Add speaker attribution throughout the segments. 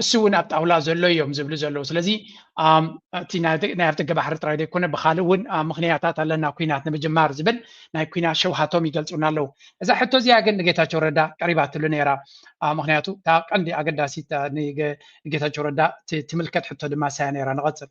Speaker 1: እሱ እውን ኣብ ጣውላ ዘሎ እዮም ዝብሉ ዘለዉ ስለዚ እቲ ናይ ኣፍደገ ባሕሪ ጥራይ ዘይኮነ ብካልእ እውን ምክንያታት ኣለና ኩናት ንምጅማር ዝብል ናይ ኩናት ሸውሃቶም ይገልፁና ኣለዉ እዛ ሕቶ እዚኣ ግን ንጌታቸው ረዳ ቀሪባትሉ ነይራ ምክንያቱ እታ ቀንዲ ኣገዳሲት ንጌታቸው ረዳ ትምልከት ሕቶ ድማ ሳያ ነይራ ንቐፅል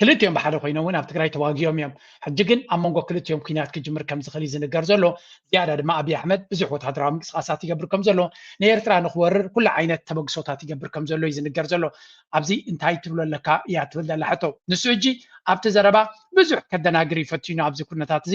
Speaker 1: ክልቲኦም ብሓደ ኮይኖም እውን ኣብ ትግራይ ተዋጊኦም እዮም። ሕጂ ግን ኣብ መንጎ ክልቲኦም ኲናት ክጅምር ከም ዝኽእል እዩ ዝንገር ዘሎ። ዝያዳ ድማ ኣብዪ ኣሕመድ ብዙሕ ወተሃደራዊ ምንቅስቓሳት ይገብር ከም ዘሎ፣ ንኤርትራ ንኽወርር ኩሉ ዓይነት ተበግሶታት ይገብር ከም ዘሎ እዩ ዝንገር ዘሎ። ኣብዚ እንታይ ትብሎ ኣለካ እያ ትብል ዘላ ሕቶ። ንሱ ሕጂ ኣብቲ ዘረባ ብዙሕ ከደናግር እዩ ፈቲኑ ኣብዚ ኩነታት እዚ።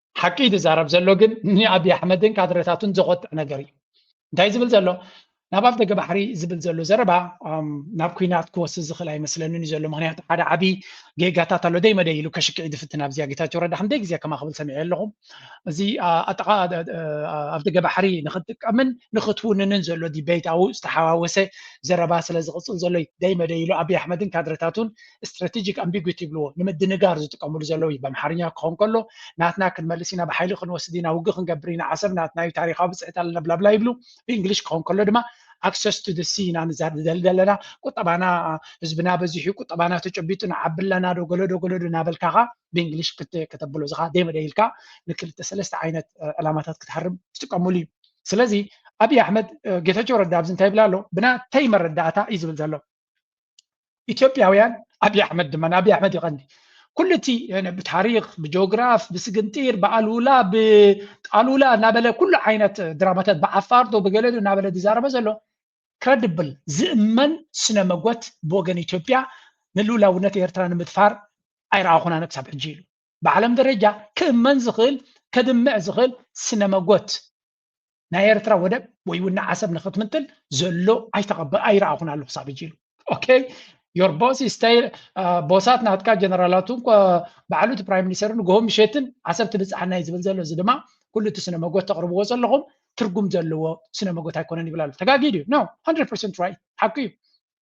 Speaker 1: ሓቂ እዩ ዝዛረብ ዘሎ ግን ንኣብዪ ኣሕመድን ካድረታቱን ዘቆጥዕ ነገር እዩ እንታይ ዝብል ዘሎ ናብ ኣፍ ደገ ባሕሪ ዝብል ዘሎ ዘረባ ናብ ኩናት ክወስድ ዝኽእል ኣይመስለንን እዩ ዘሎ ምክንያቱ ሓደ ዓብዪ ጌጋታት ኣሎ ደይ መደይ ኢሉ ከሽክዒ ዝፍትን ኣብዚኣ ጌታቸው ረዳ ክንደይ ግዜ ከማ ክብል ሰሚዐ ኣለኹ እዚ ኣጥቃ ኣፍ ደገ ባሕሪ ንክትጥቀምን ንክትውንንን ዘሎ ዲቤት ኣብኡ ዝተሓዋወሰ ዘረባ ስለ ዝቕፅል ዘሎ ደይ መደይ ኢሉ ኣብዪ ኣሕመድን ካድረታቱን ስትራቴጂክ ኣምቢጉቲ ይብልዎ ንምድንጋር ዝጥቀምሉ ዘለዉ እዩ በምሓርኛ ክኸውን ከሎ ናትና ክንመልስ ኢና ብሓይሊ ክንወስድ ኢና ውግእ ክንገብር ኢና ዓሰብ ናትና እዩ ታሪካዊ ብፅሕት ኣለና ብላብላ ይብሉ ብእንግሊሽ ክኸውን ከሎ ድማ ኣክሰስ ቱ ሲ ኢና ንዛደል ዘለና ቁጠባና ህዝብና በዚሑ ቁጠባና ተጨቢጡ ንዓቢ ኣለና ዶ ገለዶ ገለዶ እናበልካኻ ብእንግሊሽ ከተብሎ እዚኻ ደመደ ኢልካ ንክልተ ሰለስተ ዓይነት ዕላማታት ክትሃርም ትጥቀምሉ እዩ ስለዚ ኣብዪ ኣሕመድ ጌታቸው ረዳ ኣብዚ እንታይ ይብል ኣሎ ብናተይ መረዳእታ እዩ ዝብል ዘሎ ኢትዮጵያውያን ኣብይ ኣሕመድ ድማ ንኣብይ ኣሕመድ ይቐኒ ኩሉ እቲ ብታሪክ ብጂኦግራፍ ብስግንጢር ብኣሉላ ብጣሉላ እናበለ ኩሉ ዓይነት ድራማታት ብዓፋርዶ ብገለዶ እናበለ ዝዛረበ ዘሎ ክረድብል ዝእመን ስነ መጎት ብወገን ኢትዮጵያ ንልኡላውነት ኤርትራ ንምድፋር ኣይረኣኹን ኣነ ክሳብ ሕጂ ኢሉ ብዓለም ደረጃ ክእመን ዝኽእል ከድምዕ ዝኽእል ስነ መጎት ናይ ኤርትራ ወደብ ወይ እውን ንዓሰብ ንክትምጥል ዘሎ ኣይተቐበ ኣይረኣኹን ኣለኹ ሳብ እጅ ኢሉ ኦኬ ዮር ቦስ ስተይ ቦሳት ናትካ ጀነራላቱ ባዕሉ እቲ ፕራይም ሚኒስተር ንግሆ ምሸትን ዓሰብ ትብፅሓና እዩ ዝብል ዘሎ እዚ ድማ ኩሉ እቲ ስነ መጎት ተቕርብዎ ዘለኹም ትርጉም ዘለዎ ስነ መጎት ኣይኮነን ይብል ኣሎ ተጋጊድ እዩ ኖ 100 ራይት ሓቂ እዩ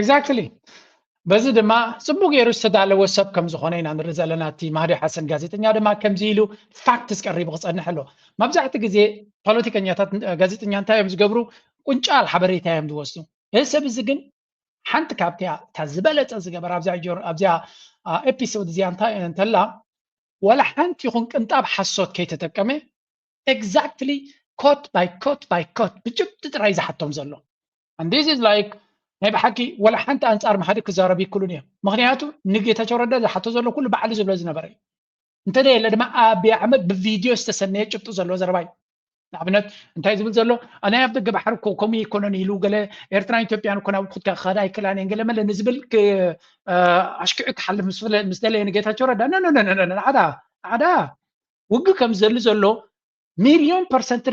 Speaker 2: ኤግዛክትሊ
Speaker 1: በዚ ድማ ጽቡቅ ገይሩ ዝተዳለወ ሰብ ከም ዝኾነ ኢና ንርኢ ዘለና እቲ ማህዲ ሓሰን ጋዜጠኛ ድማ ከምዚ ኢሉ ፋክትስ ቀሪቡ ክጸንሕ ኣሎ መብዛሕቲ ግዜ ፖለቲከኛታት ጋዜጠኛ እንታይ እዮም ዝገብሩ ቁንጫል ሓበሬታ እዮም ዝወስዱ እዚ ሰብ እዚ ግን ሓንቲ ካብቲያ እታ ዝበለጸ ዝገበረ ኣብዚያ ኤፒሶድ እዚኣ እንታይ እንተላ ወላ ሓንቲ ይኹን ቅንጣብ ሓሶት ከይተጠቀመ ኤግዛክትሊ ኮት ባይ ኮት ባይ ኮት ብጭብጢ ጥራይ ዝሓቶም ዘሎ and this is like ናይ ብሓቂ ወላ ሓንቲ ኣንጻር ምሓዲ ክዛረብ ይክሉን እዮም ምክንያቱ ንጌታቸው ረዳ ዝሓቶ ዘሎ ኩሉ ባዕሉ ዝብሎ ዝነበረ እዩ እንተዘየለ ድማ ኣብይ ኣሕመድ ብቪድዮ ዝተሰነየ ጭብጢ ዘለዎ ዘረባ እዩ ንኣብነት እንታይ ዝብል ዘሎ ናይ ኣብ ደገ ባሕሪ እኮ ከምኡ ይኮነን ኢሉ ገለ ኤርትራን ኢትዮጵያን እኮ ናብ ኩትካ ክኸዳ ኣይክእላን እየን ገለ መለ ንዝብል ኣሽኪዑ ክሓልፍ ምስ ደለየ ንጌታቸው ረዳ ነነነነነ ንዓዳ ንዓዳ ውግእ ከም ዘሉ ዘሎ ሚልዮን ፐርሰንቲ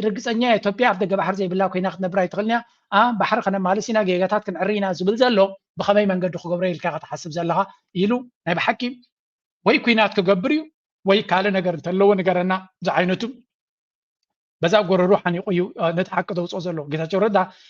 Speaker 1: ርግፀኛ እየ ኢትዮጵያ ኣብ ደገ ባሕሪ ዘይብላ ኮይና ክትነብር ኣይትኽእልን እያ ኣ ባሕሪ ከነማልስ ኢና ጌጋታት ክንዕሪ ኢና ዝብል ዘሎ ብኸመይ መንገዲ ክገብሮ ኢልካ ኢኻ ትሓስብ ዘለኻ ኢሉ ናይ ብሓቂ ወይ ኩናት ክገብር እዩ ወይ ካልእ ነገር እንተለዎ ንገረና ዝዓይነቱ በዛ ጎረሩ ሓኒቑ እዩ ነቲ ሓቂ ዘውፅኦ ዘሎ ጌታቸው ረዳ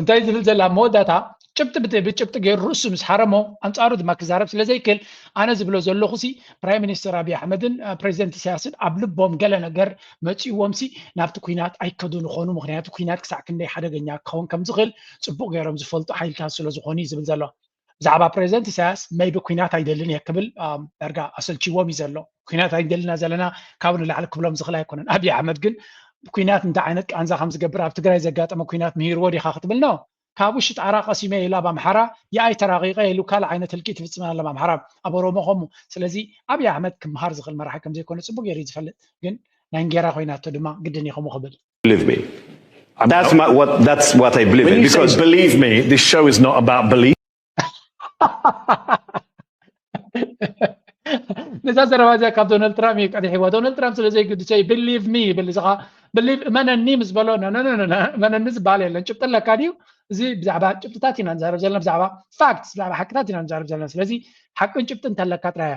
Speaker 1: እንታይ ዝብል ዘላ ኣብ መወዳእታ ጭብጢ ብጭብጢ ገይሩ ርእሱ ምስ ሓረሞ ኣንጻሩ ድማ ክዛረብ ስለ ዘይክእል ኣነ ዝብሎ ዘለኹ ሲ ፕራይም ሚኒስተር ኣብዪ ኣሕመድን ፕሬዚደንት ኢሳያስን ኣብ ልቦም ገለ ነገር መፂእዎም ሲ ናብቲ ኩናት ኣይከዱን ይኾኑ ምክንያቱ ኩናት ክሳዕ ክንደይ ሓደገኛ ክኸውን ከም ዝኽእል ፅቡቕ ገይሮም ዝፈልጡ ሓይልታት ስለ ዝኾኑ እዩ ዝብል ዘሎ ብዛዕባ ፕሬዚደንት ኢሳያስ መይቢ ኩናት ኣይደልን እየ ክብል ዳርጋ ኣሰልችዎም እዩ ዘሎ ኩናት ኣይደልና ዘለና ካብ ንላዕሊ ክብሎም ዝኽእል ኣይኮነን ኣብዪ ኣሕመድ ግን ኩናት እንታይ ዓይነት ቃንዛ ከም ዝገብር ኣብ ትግራይ ዘጋጠመ ኩናት ምሂርዎ ዲኻ ክትብል ነው ካብ ውሽጢ ጣራ ቀሲመ ኢሉ ኣብ ኣምሓራ የኣይ ተራቂቀ ኢሉ ካልእ ዓይነት ህልቂት ይፍፅም ኣሎ ኣብ ኣምሓራ ኣብ ኦሮሞ ከምኡ ስለዚ ኣብዪ ኣሕመድ ክምሃር ዝኽእል መራሒ ከም ዘይኮነ ፅቡቅ ገይሩ ዝፈልጥ ግን ናይ እንጌራ ኮይናቶ ድማ ግድን እዩ ከምኡ ክብል Believe me.
Speaker 3: I'm that's not, my, what that's what I believe when in. You because say, believe
Speaker 2: me,
Speaker 3: this
Speaker 2: show is not about belief.
Speaker 1: ነዛ ዘረባ እዚያ ካብ ዶናልድ ትራምፕ እዩ ቀዲሕዋ ዶናልድ ትራምፕ ስለ ዘይግድሰ እዩ ብሊቭ ሚ ይብል እዚ ከዓ ብሊቭ እመነኒ ምስ በሎ እመነኒ ዝበሃል የለን ጭብጢ ኣለካ ድዩ እዚ ብዛዕባ ጭብጥታት ኢና ንዛረብ ዘለና ብዛዕባ ፋክት ብዛዕባ ሓቅታት ኢና ንዛረብ ዘለና ስለዚ ሓቅን ጭብጢ እንተለካ ጥራያ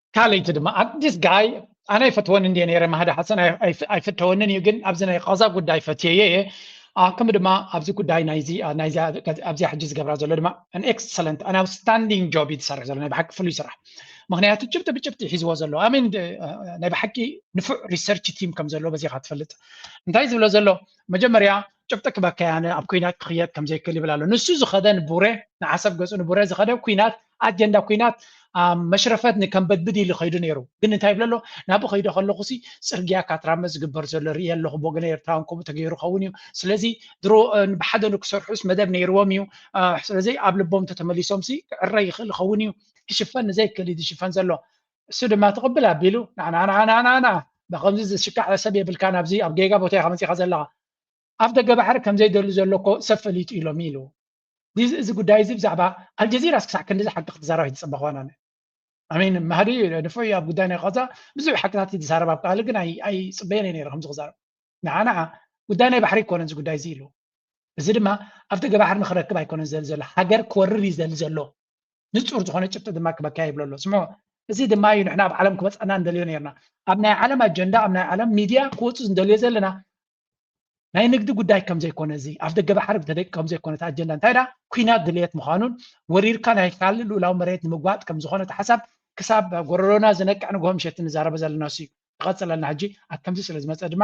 Speaker 2: ካልይቲ ድማ
Speaker 1: ኣዲስ ጋይ ኣነ ኣይፈትወን እንዲ ነረ ማህዲ ሓሰን ኣይፍተወንን እዩ ግን ኣብዚ ናይ ቃዛ ጉዳይ ፈትየየ እየ ከምኡ ድማ ኣብዚ ጉዳይ ናይዚኣብዚኣ ሕጂ ዝገብራ ዘሎ ድማ ን ኤክሰለንት ን ኣውትስታንዲንግ ጆብ እዩ ዝሰርሕ ዘሎ ናይ ብሓቂ ፍሉይ ስራሕ ምክንያቱ ጭብጢ ብጭብጢ ሒዝዎ ዘሎ ኣሜን ናይ ብሓቂ ንፉዕ ሪሰርች ቲም ከም ዘለዎ በዚካ ትፈልጥ እንታይ ዝብሎ ዘሎ መጀመርያ ጭብጢ ክበከያነ ኣብ ኩናት ክክየድ ከምዘይክእል ይብል ኣሎ ንሱ ዝኸደ ንቡረ ንዓሰብ ገፁ ንቡረ ዝኸደ ኩናት ኣጀንዳ ኲናት ኣብ መሽረፈት ንከምበድብድ ኢሉ ከይዱ ነይሩ። ግን እንታይ ይብል ኣሎ? ናብኡ ከይደ ከለኹሲ ጽርግያ ካትራመ ዝግበር ዘሎ ርእየ ኣለኹ፣ ብወገነ ኤርትራውያን ከምኡ ተገይሩ ክኸውን እዩ። ስለዚ ድሮ ብሓደ ንክሰርሑስ መደብ ነይርዎም እዩ። ስለዚ ኣብ ልቦም እንተተመሊሶምሲ ክዕረ ይኽእል ይኸውን እዩ። ክሽፈን ንዘይክእል እዩ ዝሽፈን ዘሎ። እሱ ድማ ትቕብል ኣቢሉ ናናናናናና ብከምዚ ዝሽካዕ ሰብ የብልካን ኣብዚ ኣብ ጌጋ ቦታ ኢኻ መጺኻ ዘለኻ ኣብ ደገ ባሕሪ ከምዘይደሉ ዘሎ እኮ ሰብ ፈሊጡ ኢሎም ኢሉ እዚ ጉዳይ እዚ ብዛዕባ ኣልጀዚራስ ክሳዕ ክንድዚ ሓቂ ክትዛረብ ኣይትጽበኻን ኣነ ኣሜን ማህዲ ንፉዕ እዩ ኣብ ጉዳይ ናይ ቃዛ ብዙሕ ሓቅታት እዩ ዝዛረብ ኣብ ቃል ግን ኣይጽበየን እየ ነይረ ከምዚ ክዛረብ ንዓ ንዓ ጉዳይ ናይ ባሕሪ ኣይኮነን እዚ ጉዳይ እዚ ኢሉ እዚ ድማ ኣብ ደገ ባሕሪ ንክረክብ ኣይኮነን ዝደሊ ዘሎ ሃገር ክወርር እዩ ዝደሊ ዘሎ ንጹር ዝኾነ ጭብጢ ድማ ክበካ ይብሎ ኣሎ ስምዖ እዚ ድማ እዩ ንሕና ኣብ ዓለም ክበፅሐና እንደልዮ ነርና ኣብ ናይ ዓለም ኣጀንዳ ኣብ ናይ ዓለም ሚድያ ክወፁ እንደልዮ ዘለና ናይ ንግዲ ጉዳይ ከም ዘይኮነ እዚ ኣብ ደገ ባሕሪ ብተደቂ ከም ዘይኮነ እቲ ኣጀንዳ እንታይ ዳ ኩናት ድልየት ምዃኑን ወሪርካ ናይ ካልእ ልኡላዊ መሬት ንምግባጥ ከም ዝኾነ እቲ ሓሳብ ክሳብ ጎረሮና ዝነቅዕ ንግሆ ምሸት ንዛረበ ዘለና ሲ እዩ ይቐፅለልና ሕጂ ኣብ ከምዚ ስለ ዝመፀ ድማ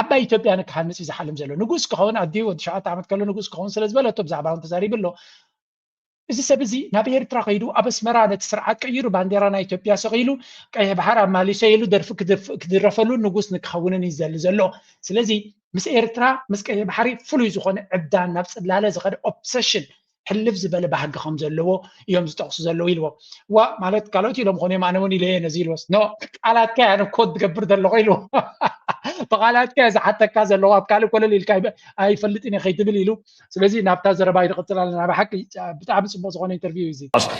Speaker 1: ዓባይ ኢትዮጵያ ንክሃንጽ እዩ ዝሓልም ዘሎ ንጉስ ክኸውን ኣዲኡ ወዲ ሸውዓተ ዓመት ከሎ ንጉስ ክኸውን ስለ ዝበለቶ ብዛዕባ እውን ተዛሪቡ ኣሎ እዚ ሰብ እዚ ናብ ኤርትራ ከይዱ ኣብ ኣስመራ ነቲ ስርዓት ቀይሩ ባንዴራ ናይ ኢትዮጵያ ሰቂሉ ቀይሕ ባሕር ኣማሊሰ ኢሉ ደርፊ ክድረፈሉ ንጉስ ንክኸውንን እዩ ዘሊ ዘሎ ስለዚ ምስ ኤርትራ ምስ ቀይሕ ባሕሪ ፍሉይ ዝኾነ ዕብዳን ናብ ፅላለ ዝኸደ ኦብሰሽን ሕልፍ ዝበለ ባህጊ ከም ዘለዎ እዮም ዝጠቕሱ ዘለዉ ኢልዎ ዋ ማለት ካልኦት ኢሎም ኾኑ እዮም ኣነ እውን ኢለ እየ ነዚ ኢልዎስ ኖ ቃላትካ እያ ኮት ዝገብር ዘለኹ ኢልዎ ብቃላትካ እየ ዝሓተካ ዘለኹ ኣብ ካልእ ኮለል ኢልካ ኣይፈልጥን እየ ከይትብል ኢሉ ስለዚ ናብታ ዘረባ ይድቕፅል ኣለና ብሓቂ ብጣዕሚ ፅቡቅ ዝኾነ ኢንተርቪው እዩ እዚ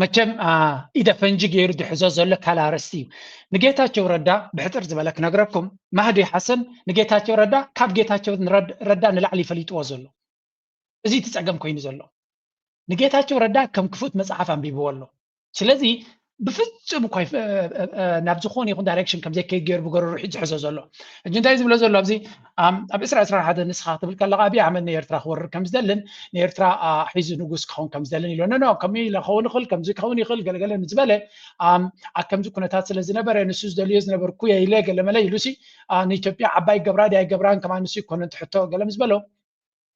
Speaker 1: መቸም ኢደ ፈንጂ ገይሩ ዝሕዞ ዘሎ ካል ኣረስቲ እዩ ንጌታቸው ረዳ ብሕፅር ዝበለ ክነግረኩም ማህዲ ሓሰን ንጌታቸው ረዳ ካብ ጌታቸው ረዳ ንላዕሊ ይፈሊጥዎ ዘሎ እዚ እቲ ፀገም ኮይኑ ዘሎ ንጌታቸው ረዳ ከም ክፉት መፅሓፍ ኣንቢብዎ ኣሎ ስለዚ ብፍጹም እኳ ናብ ዝኾነ ይኹን ዳይሬክሽን ከም ዘይከይድ ገይሩ ብገረሩ ሕጂ ዝሕዞ ዘሎ ሕጂ እንታይ ዝብሎ ዘሎ ኣብዚ ኣብ ዕስራ ዕስራ ሓደ ንስኻ ክትብል ከለካ ኣብዪ ኣሕመድ ንኤርትራ ክወርር ከም ዝደልን ንኤርትራ ሒዙ ንጉስ ክኸውን ከም ዝደልን ኢሎ ኖ ከምኡ ኢለ ክኸውን ይኽእል ከምዚ ክኸውን ይኽእል ገለገለ ምስ በለ ኣብ ከምዚ ኩነታት ስለ ዝነበረ ንሱ ዝደልዮ ዝነበርኩ እየ ኢለ ገለመለ ኢሉሲ ንኢትዮጵያ ዓባይ ገብራ ድያ ገብራን ከማ ንሱ ይኮነ ትሕቶ ገለ ምስ በሎ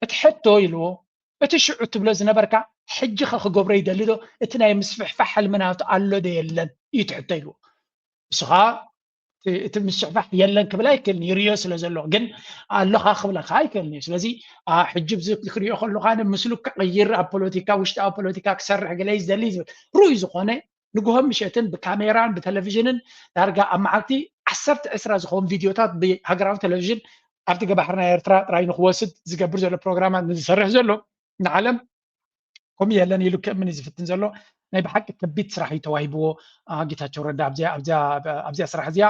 Speaker 1: እቲ ሕቶ ኢልዎ እቲ ሽዑ ትብሎ ዝነበርካ ሕጂ ከ ክገብሮ ይደሊ ዶ እቲ ናይ ምስፍሕፋሕ ሕልሚ ናቱ ኣሎ ዶ የለን እዩ እቲ ሕቶ ኢልዎ ንሱ ከዓ እቲ ምስፍሕፋሕ የለን ክብል ኣይክእልን ይርዮ ስለ ዘለኹ ግን ኣለኻ ክብለካ ኣይክእልን እዩ ስለዚ ሕጂ ብዚ ክሪኦ ከለካ ምስሉ ክቕይር ኣብ ፖለቲካ ውሽጣዊ ፖለቲካ ክሰርሕ ገለ ዝደሊ ዝብል ርኡይ ዝኾነ ንግሆን ምሸትን ብካሜራን ብተለቪዥንን ዳርጋ ኣብ መዓልቲ ዓሰርተ ዕስራ ዝኸውን ቪድዮታት ብሃገራዊ ቴሌቪዥን ኣብቲ ገባሕር ናይ ኤርትራ ጥራይ ንክወስድ ዝገብር ዘሎ ፕሮግራማት ንዝሰርሕ ዘሎ ንዓለም ከምኡ የለን ኢሉ ክእምን እዩ ዝፍትን ዘሎ ናይ ብሓቂ ከቢድ ስራሕ እዩ ተዋሂብዎ ጌታቸው ረዳ ኣብዚኣ ስራሕ እዚኣ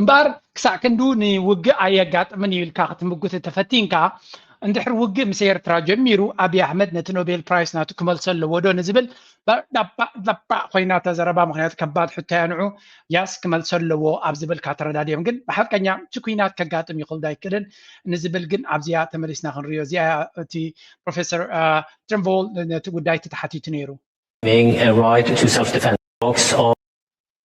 Speaker 1: እምበኣር ክሳዕ ክንዱ ንውግእ ኣየጋጥምን እዩ ኢልካ ክትምጉት እንተፈቲንካ እንድሕር ውግእ ምስ ኤርትራ ጀሚሩ ኣብዪ ኣሕመድ ነቲ ኖቤል ፕራይስ ናቱ ክመልሶ ኣለዎ ዶ ንዝብል ዳባ ኮይና እታ ዘረባ ምክንያቱ ከባድ ሕቶ እያ ንዑ ያስ ክመልሶ ኣለዎ ኣብ ዝብል ካተረዳድዮም ግን ብሓቀኛ እቲ ኩናት ከጋጥም ይኽእል ዶ ኣይክእልን ንዝብል ግን ኣብዚኣ ተመሊስና ክንሪዮ እዚኣ እቲ ፕሮፌሰር ትርንቮል ነቲ ጉዳይ ተተሓቲቱ ነይሩ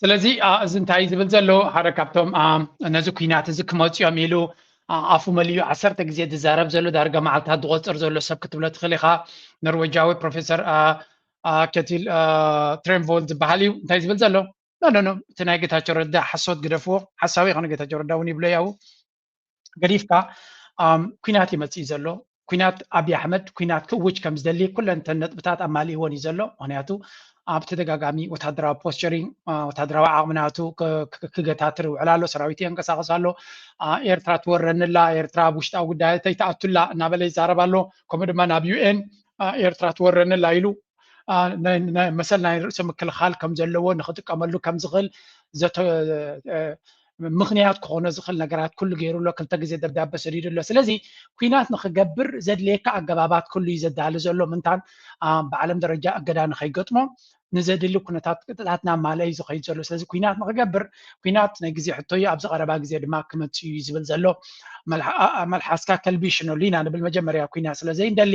Speaker 2: ስለዚ
Speaker 1: እዚ እንታይ ዝብል ዘሎ ሓደ ካብቶም ነዚ ኩናት እዚ ክመፁ እዮም ኢሉ ኣፉ መሊዩ ዓሰርተ ግዜ ዝዛረብ ዘሎ ዳርጋ መዓልትታት ዝቆፅር ዘሎ ሰብ ክትብሎ ትኽእል ኢኻ ኖርዌጃዊ ፕሮፌሰር ከቲል ትሬንቮል ዝበሃል እዩ እንታይ ዝብል ዘሎ ኖኖ እቲ ናይ ጌታቸው ረዳ ሓሶት ግደፍዎ ሓሳዊ ይኮነ ጌታቸው ረዳ እውን ይብሎ ያው ገዲፍካ ኩናት እዩ መፅኢ ዘሎ ኩናት ኣብዪ ኣሕመድ ኩናት ክእውጅ ከም ዝደሊ ኩለን እተን ነጥብታት ኣማሊእዎን እዩ ዘሎ ምክንያቱ ኣብ ተደጋጋሚ ወታደራዊ ፖስቸሪንግ ወታደራዊ ዓቕሚ ናቱ ክገታትር ይውዕል ኣሎ ሰራዊት የንቀሳቐስ ኣሎ ኤርትራ ትወረንላ ኤርትራ ኣብ ውሽጣዊ ጉዳይ ተይትኣቱላ እናበለ ይዛረብ ኣሎ ከምኡ ድማ ናብ ዩኤን ኤርትራ ትወረንላ ኢሉ መሰል ናይ ርእሰ ምክልኻል ከም ዘለዎ ንክጥቀመሉ ከም ዝኽእል ምኽንያት ክኾኖ ዝኽእል ነገራት ኩሉ ገይሩ ኣሎ፣ ክልተ ግዜ ደብዳበ ሰዲዱ ኣሎ። ስለዚ ኲናት ንኽገብር ዘድልየካ ኣገባባት ኩሉ እዩ ዘዳሊ ዘሎ፣ ምንታን ብዓለም ደረጃ እገዳ ንኸይገጥሞ ንዘድሊ ኩነታት ቅጥታት እናማልአ እዩ ዝኸይድ ዘሎ። ስለዚ ኲናት ንኽገብር ኲናት ናይ ግዜ ሕቶ እዩ፣ ኣብዚ ቀረባ ግዜ ድማ ክመጽእ እዩ ዝብል ዘሎ። መልሓስካ ከልቢ ሽነሉ ኢና ንብል፣ መጀመርያ ኲናት ስለ ዘይንደሊ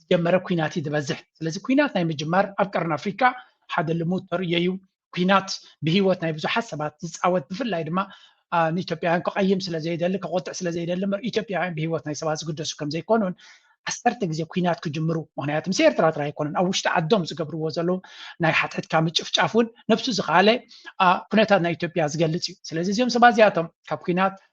Speaker 1: ዝጀመረ ኩናት እዩ ዝበዝሕ ስለዚ ኩናት ናይ ምጅማር ኣብ ቀርኒ ኣፍሪካ ሓደ ልሙድ ተርእዮ እዩ ኩናት ብሂወት ናይ ብዙሓት ሰባት ዝፃወት ብፍላይ ድማ ንኢትዮጵያውያን ክቐይም ስለ ዘይደሊ ከቆጥዕ ስለ ዘይደሊ እምበር ኢትዮጵያውያን ብሂወት ናይ ሰባት ዝግደሱ ከም ዘይኮኑን ዓሰርተ ግዜ ኩናት ክጅምሩ ምክንያቱ ምስ ኤርትራ ጥራይ ኣይኮነን ኣብ ውሽጢ ዓዶም ዝገብርዎ ዘለዉ ናይ ሓትሕትካ ምጭፍጫፍ እውን ነብሱ ዝኸኣለ ኩነታት ናይ ኢትዮጵያ ዝገልፅ እዩ ስለዚ እዚኦም ሰባት እዚኣቶም ካብ ኩናት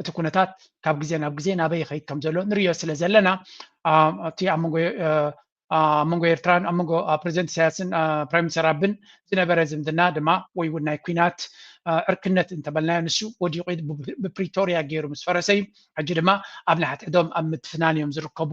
Speaker 1: እቲ ኩነታት ካብ ግዜ ናብ ግዜ ናበይ ይኸይድ ከም ዘሎ ንሪኦ ስለ ዘለና እቲ ኣብ መንጎ ኣብ መንጎ ኤርትራን ኣብ መንጎ ፕሬዚደንት ኢሳያስን ፕራይም ሚኒስተር ኣብን ዝነበረ ዝምድና ድማ ወይ እውን ናይ ኩናት ዕርክነት እንተበልናዮ ንሱ ወዲቑ ብፕሪቶርያ ገይሩ ምስ ፈረሰ እዩ ሕጂ ድማ ኣብ ንሓትሕዶም ኣብ ምትፍናን እዮም ዝርከቡ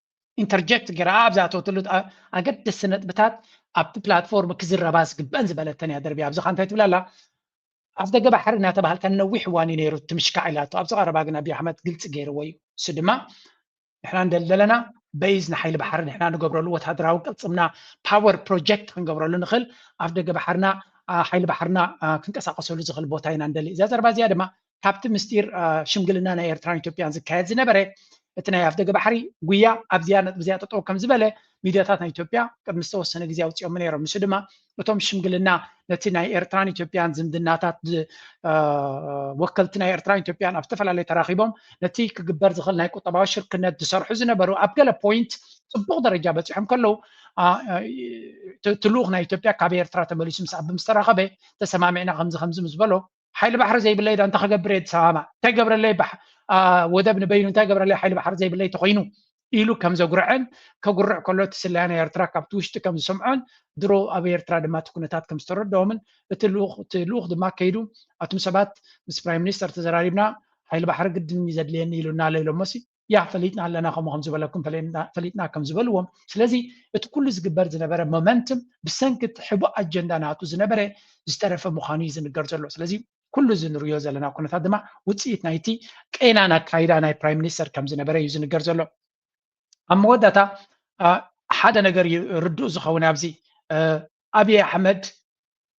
Speaker 1: ኢንተርጀክት ገይራ ኣብ ዝኣተወትሉ ኣገደስቲ ነጥብታት ኣብቲ ፕላትፎርም ክዝረባ ዝግበአን ዝበለተን እያ ደርቢያ ኣብዚ ካ እንታይ ትብል ኣላ ኣፍ ደገ ባሕሪ እናተባሃልካ ነዊሕ እዋን እዩ ነይሩ ትምሽካዕ ኢላቶ ኣብዚ ቀረባ ግን ኣብይ ኣሕመድ ግልፂ ገይርዎ እዩ እሱ ድማ ንሕና እንደለለና በይዝ ንሓይሊ ባሕሪ ንሕና ንገብረሉ ወታደራዊ ቅልፅምና ፓወር ፕሮጀክት ክንገብረሉ ንኽእል ኣፍ ደገ ባሕርና ሓይሊ ባሕርና ክንቀሳቀሰሉ ዝኽእል ቦታ ኢና ንደሊ እዛ ዘረባ እዚኣ ድማ ካብቲ ምስጢር ሽምግልና ናይ ኤርትራን ኢትዮጵያን ዝካየድ ዝነበረ እቲ ናይ ኣፍደገ ባሕሪ ጉያ ኣብዚያ ነጥቢ እዚኣ ጠጠው ከም ዝበለ ሚድያታት ናይ ኢትዮጵያ ቅድሚ ዝተወሰነ ግዜ ኣውፂኦሞ ነይሮም ንሱ ድማ እቶም ሽምግልና ነቲ ናይ ኤርትራን ኢትዮጵያን ዝምድናታት ወከልቲ ናይ ኤርትራን ኢትዮጵያን ኣብ ዝተፈላለዩ ተራኺቦም ነቲ ክግበር ዝኽእል ናይ ቁጠባዊ ሽርክነት ዝሰርሑ ዝነበሩ ኣብ ገለ ፖይንት ፅቡቕ ደረጃ በፂሖም ከለዉ እቲ ልኡኽ ናይ ኢትዮጵያ ካብ ኤርትራ ተመሊሱ ምስ ኣቢ ምስ ተራኸበ ተሰማሚዕና ከምዚ ከምዚ ምስ በሎ ሓይሊ ባሕሪ ዘይብለይ ዶ እንታይ ክገብር እየ ኣዲስ ኣበባ እንታይ ገብረለይ ወደብ ንበይኑ እንታይ ገብረለይ ሓይሊ ባሕሪ ዘይብለይ ተኮይኑ ኢሉ ከም ዘጉርዐን ከጉርዕ ከሎ እቲ ስለያ ናይ ኤርትራ ካብቲ ውሽጢ ከም ዝሰምዖን ድሮ ኣብ ኤርትራ ድማ እቲ ኩነታት ከም ዝተረድኦምን እቲ ልኡኽ እቲ ልኡኽ ድማ ከይዱ ኣቱም ሰባት ምስ ፕራይም ሚኒስተር ተዘራሪብና ሓይሊ ባሕሪ ግድን ዘድልየኒ ኢሉና ኣሎ ኢሎሞሲ ያ ፈሊጥና ኣለና ከምኡ ከም ዝበለኩም ፈሊጥና ከም ዝበልዎም ስለዚ እቲ ኩሉ ዝግበር ዝነበረ ሞመንትም ብሰንኪ እቲ ሕቡእ ኣጀንዳ ናቱ ዝነበረ ዝተረፈ ምዃኑ እዩ ዝንገር ዘሎ ስለዚ ኩሉ እዚ ንሪዮ ዘለና ኩነታት ድማ ውፅኢት ናይቲ ቄናን ኣካይዳ ናይ ፕራይም ሚኒስተር ከም ዝነበረ እዩ ዝንገር ዘሎ ኣብ መወዳእታ ሓደ ነገር እዩ ርዱእ ዝኸውን ኣብዚ ኣብዪ ኣሕመድ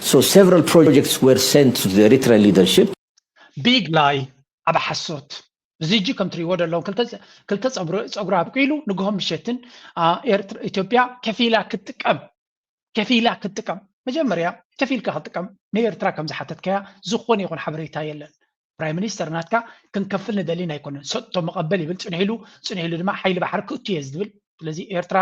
Speaker 4: So several projects were sent to the Eritrean leadership. Big
Speaker 1: lie ዓቢ ሓሶት ዚጂ ከም ትሪእዎ ደለኹም ክልተ ፀጉሪ ኣብቂሉ ንግሆ ምሸትን ኢትዮጵያ ከፊላ ክትጥቀም ከፊላ ክትጥቀም መጀመርያ ከፊልካ ክትጥቀም ንኤርትራ ከም ዝሓተትካያ ዝኾነ ይኹን ሓበሬታ የለን ፕራይም ሚኒስተር ናትካ ክንከፍል ንደሊን ኣይኮነን ሰጥቶ መቐበል ይብል ፅንሕ ኢሉ ፅንሕ ኢሉ ድማ ሓይሊ ባሕሪ ክእቱ እየ ዝብል ስለዚ ኤርትራ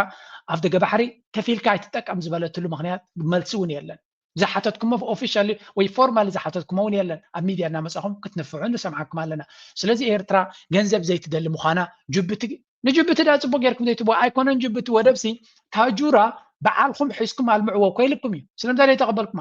Speaker 1: ኣብ ደገ ባሕሪ ከፊልካ ኣይትጠቀም ዝበለትሉ ምክንያት መልሲ እውን የለን ዝሓተትኩሞ ኦፊሻሊ ወይ ፎርማሊ ዝሓተትኩሞ እውን የለን ኣብ ሚድያ እናመፃኹም ክትንፍዑ ንሰምዓኩም ኣለና ስለዚ ኤርትራ ገንዘብ ዘይትደሊ ምዃና ጅቡቲ ንጅቡቲ ዳ ፅቡቅ ጌርኩም ዘይትብዎ ኣይኮነን ጅቡቲ ወደብሲ ታጁራ በዓልኩም ሒዝኩም ኣልምዕዎ ኮይልኩም እዩ ስለምንታይ ዘይተቀበልኩማ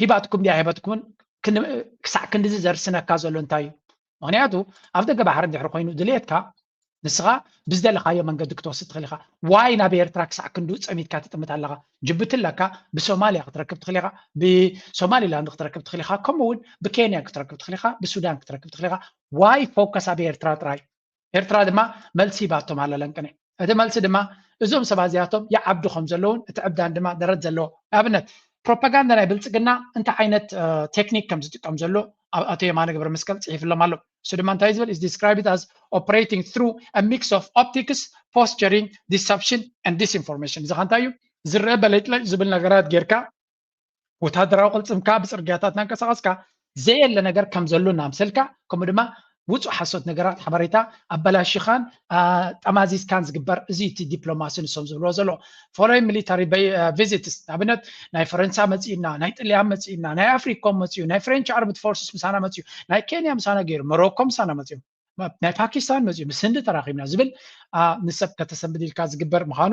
Speaker 1: ሂባትኩም ድያ ኣይሃበትኩምን ክሳዕ ክንድዚ ዘርስነካ ዘሎ እንታይ እዩ ምክንያቱ ኣብ ደገ ባሕሪ እንድሕር ኮይኑ ድልየትካ ንስኻ ብዝደለኻዮ መንገዲ ክትወስድ ትኽእል ኢኻ ዋይ ናብ ኤርትራ ክሳዕ ክንዱ ፀሚትካ ትጥምት ኣለኻ ጅቡቲ ኣለካ ብሶማልያ ክትረክብ ትኽእል ኢኻ ብሶማሊላንድ ክትረክብ ትኽእል ኢኻ ከምኡውን ብኬንያ ክትረክብ ትኽእል ኢኻ ብሱዳን ክትረክብ ትኽእል ኢኻ ዋይ ፎከስ ኣብ ኤርትራ ጥራይ ኤርትራ ድማ መልሲ ሂባቶም ኣላ ለንቅነ እቲ መልሲ ድማ እዞም ሰባት እዚኣቶም ይዓብዱ ከም ዘለውን እቲ ዕብዳን ድማ ደረት ዘለዎ ኣብነት ፕሮፓጋንዳ ናይ ብልጽግና እንታይ ዓይነት ቴክኒክ ከም ዝጥቀም ዘሎ ኣቶ የማነ ገብረ መስቀል ጽሒፍሎም ኣሎ እሱ ድማ እንታይ ዝብል is described as operating through a mix of optics posturing deception and disinformation እዚ ከ እንታይ እዩ ዝረአ በለጭለጭ ዝብል ነገራት ጌርካ ወታደራዊ ቅልፅምካ ብፅርግያታት እናንቀሳቐስካ ዘየለ ነገር ከም ዘሎ እናምሰልካ ከምኡ ድማ ውፁእ ሓሶት ነገራት ሓበሬታ ኣበላሽኻን ጠማዚዝካን ዝግበር እዚ እቲ ዲፕሎማሲ ንሶም ዝብልዎ ዘሎ ፎሎይ ሚሊታሪ ቪዚትስ ንኣብነት ናይ ፈረንሳ መፂኡና ናይ ጥልያን መፂኡና ናይ ኣፍሪኮም መፅኡ ናይ ፍሬንች ኣርምድ ፎርስስ ምሳና መፅኡ ናይ ኬንያ ምሳና ገይሩ መሮኮ ምሳና መፅኡ ናይ ፓኪስታን መፅኡ ምስ ህንዲ ተራኺብና ዝብል ንሰብ ከተሰንብድ ኢልካ ዝግበር ምዃኑ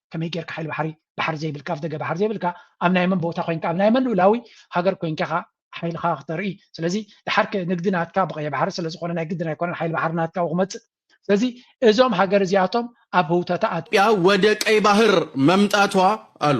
Speaker 1: ከመይ ጌርካ ሓይሊ ባሕሪ ባሕሪ ዘይብልካ ኣፍደገ ባሕሪ ዘይብልካ ኣብ ናይ መን ቦታ ኮንካ ኣብ ናይ መን ልኡላዊ ሃገር ኮንካ ኢኻ ሓይልኻ ክተርኢ ስለዚ ድሓር ንግዲ ናትካ ብቀይ ባሕሪ ስለዝኾነ ናይ ግድን ኣይኮነን ሓይሊ ባሕሪ ናትካ ክመፅእ ስለዚ እዞም ሃገር እዚኣቶም ኣብ ህውተታ ኣያ ወደ ቀይ ባህር
Speaker 5: መምጣቷ ኣሉ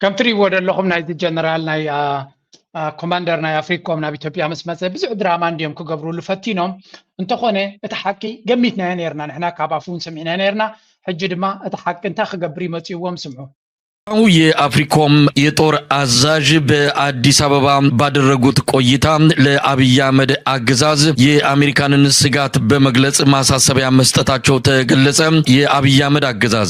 Speaker 1: ከም ትርእይዎ ዘለኹም ናይዚ ጀነራል ናይ ኮማንደር ናይ ኣፍሪኮም ናብ ኢትዮጵያ ምስ መፀ ብዙሕ ድራማ እንድዮም ክገብርሉ ፈቲኖም እንተኾነ እቲ ሓቂ ገሚትናዮ ነርና ንሕና ካብ ኣፉ እውን ሰሚዕናዮ ነርና ሕጂ ድማ እቲ ሓቂ እንታይ ክገብር ይመፅዎም ስምዑ የአፍሪኮም
Speaker 6: የጦር አዛዥ በአዲስ አበባ ባደረጉት ቆይታ ለአብይ አህመድ አገዛዝ የአሜሪካንን ስጋት በመግለጽ ማሳሰቢያ መስጠታቸው ተገለጸ። የአብይ አህመድ አገዛዝ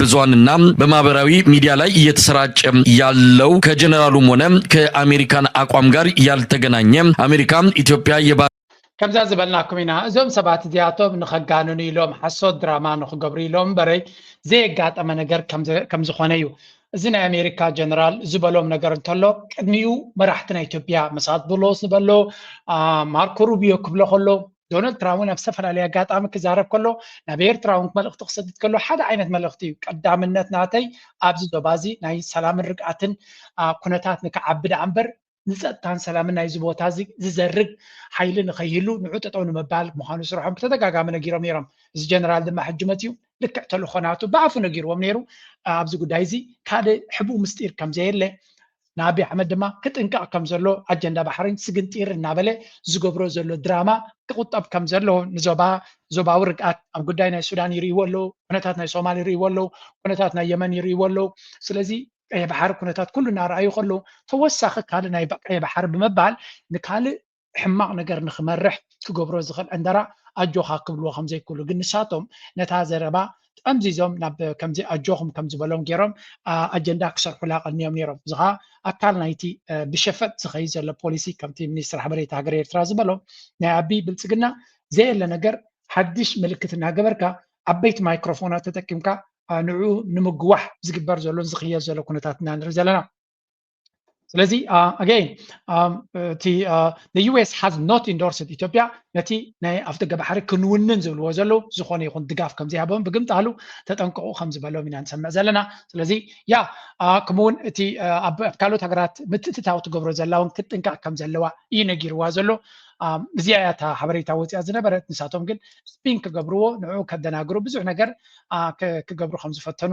Speaker 6: ብዙሃንና በማህበራዊ ሚዲያ ላይ እየተሰራጨ ያለው ከጀነራሉም ሆነ ከአሜሪካን አቋም ጋር ያልተገናኘ አሜሪካ ኢትዮጵያ የባ ከምዛ
Speaker 1: ዝበልናኩም ኢና እዞም ሰባት እዚኣቶም ንኸጋንኑ ኢሎም ሓሶት ድራማ ንክገብሩ ኢሎም በረይ ዘየጋጠመ ነገር ከም ዝኾነ እዩ እዚ ናይ ኣሜሪካ ጀነራል ዝበሎም ነገር እንተሎ ቅድሚኡ መራሕቲ ናይ ኢትዮጵያ መሳት ብሎ ዝበሎ ማርኮ ሩቢዮ ክብሎ ከሎ ዶናልድ ትራምፕ እውን ኣብ ዝተፈላለየ ኣጋጣሚ ክዛረብ ከሎ ናብ ኤርትራውን መልእኽቲ ክሰድድ ከሎ ሓደ ዓይነት መልእኽቲ እዩ ቀዳምነት ናተይ ኣብዚ ዞባ እዚ ናይ ሰላምን ርግኣትን ኩነታት ንክዓቢ ደኣ እምበር ንፀጥታን ሰላምን ናይዚ ቦታ እዚ ዝዘርግ ሓይሊ ንከይህሉ ንዑ ጠጠው ንምባል ምዃኑ ስርሖም ብተደጋጋሚ ነጊሮም ነይሮም እዚ ጀነራል ድማ ሕጂ መፅኡ ልክዕ ተልኾናቱ ብኣፉ ነጊርዎም ነይሩ ኣብዚ ጉዳይ እዚ ካልእ ሕቡእ ምስጢር ከም ዘየለ ንኣቢ ኣሕመድ ድማ ክጥንቀቕ ከም ዘለዎ ኣጀንዳ ባሕሪን ስግንጢር እናበለ ዝገብሮ ዘሎ ድራማ ክቑጠብ ከም ዘለዎ ንዞባ ዞባዊ ርግኣት ኣብ ጉዳይ ናይ ሱዳን ይርእይዎ ኣለዉ ኩነታት ናይ ሶማል ይርእይዎ ኣለዉ ኩነታት ናይ የመን ይርእይዎ ኣለዉ ስለዚ ቀይሕ ባሕሪ ኩነታት ኩሉ እናረኣዩ ከለዉ ተወሳኺ ካልእ ናይ ቀይሕ ባሕሪ ብምባል ንካልእ ሕማቕ ነገር ንክመርሕ ክገብሮ ዝኽእል ዕንደራ ኣጆኻ ክብልዎ ከምዘይክእሉ ግን ንሳቶም ነታ ዘረባ ጠምዚዞም ናብ ከምዚ ኣጆኹም ከም ዝበሎም ገይሮም ኣጀንዳ ክሰርሑላ ቀንዮም ነይሮም። እዚ ኸኣ ኣካል ናይቲ ብሸፈጥ ዝኸይድ ዘሎ ፖሊሲ ከምቲ ሚኒስትሪ ሓበሬታ ሃገረ ኤርትራ ዝበሎ ናይ ኣቢይ ብልጽግና ዘየለ ነገር ሓድሽ ምልክት እናገበርካ ዓበይቲ ማይክሮፎናት ተጠቂምካ ንዕኡ ንምግዋሕ ዝግበር ዘሎን ዝኽየድ ዘሎ ኩነታት ኢና ንርኢ ዘለና። ስለዚ ኣገይን እቲ ዩኤስ ሃዝ ኖት ኢንዶርስድ ኢትዮጵያ ነቲ ናይ ኣፍ ደገ ባሕሪ ክንውንን ዝብልዎ ዘለዉ ዝኾነ ይኹን ድጋፍ ከም ዘይሃቦም ብግምጣሉ ተጠንቀቑ ከም ዝበሎም ኢና ንሰምዕ ዘለና ስለዚ ያ ከምኡውን እቲ ኣብ ካልኦት ሃገራት ምትእትታው ትገብሮ ዘላ እውን ክትጥንቀቕ ከም ዘለዋ እዩ ነጊርዋ ዘሎ እዚኣ እያ እታ ሓበሬታ ወፂኣ ዝነበረት ንሳቶም ግን ስፒን ክገብርዎ ንዕኡ ከደናግሩ ብዙሕ ነገር ክገብሩ ከም ዝፈተኑ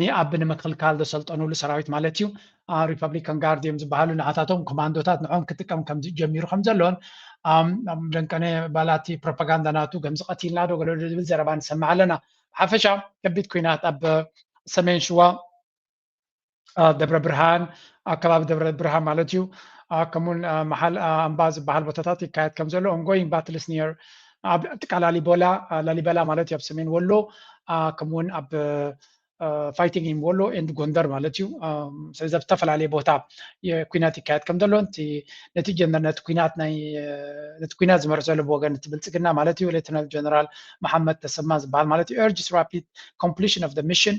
Speaker 1: ንኣብ ንምክልካል ዘሰልጠኑሉ ሰራዊት ማለት እዩ፣ ሪፐብሊካን ጋርድ እዮም ዝበሃሉ፣ ንዓታቶም ኮማንዶታት ንዕኦም ክጥቀም ከም ጀሚሩ ከም ዘሎን ደንቀነ ባላ እቲ ፕሮፓጋንዳ ናቱ ገምዚ ቀቲልና ዶ ገለዶ ዝብል ዘረባ ንሰምዕ ኣለና። ብሓፈሻ ከቢድ ኩናት ኣብ ሰሜን ሽዋ ደብረ ብርሃን ኣብ ከባቢ ደብረ ብርሃን ማለት እዩ ከምኡውን መሓል ኣምባ ዝበሃል ቦታታት ይካየድ ከም ዘሎ ኦንጎይንግ ባትልስ ኒር ኣብ ጥቃ ላሊበላ ላሊበላ ማለት እዩ ኣብ ሰሜን ወሎ ከምኡ ውን ኣብ ፋይቲንግ ኢን ወሎ ኤንድ ጎንደር ማለት እዩ ስለዚ ኣብ ዝተፈላለየ ቦታ ኩናት ይካየድ ከም ዘሎ ነቲ ነቲ ኩናት ናይ ነቲ ኩናት ዝመርሕ ዘሎ ብወገን እቲ ብልፅግና ማለት እዩ ሌተናል ጀነራል መሓመድ ተሰማ ዝበሃል ማለት እዩ ኤርጅስ ራፒድ ኮምፕሊሽን ኦፍ ሚሽን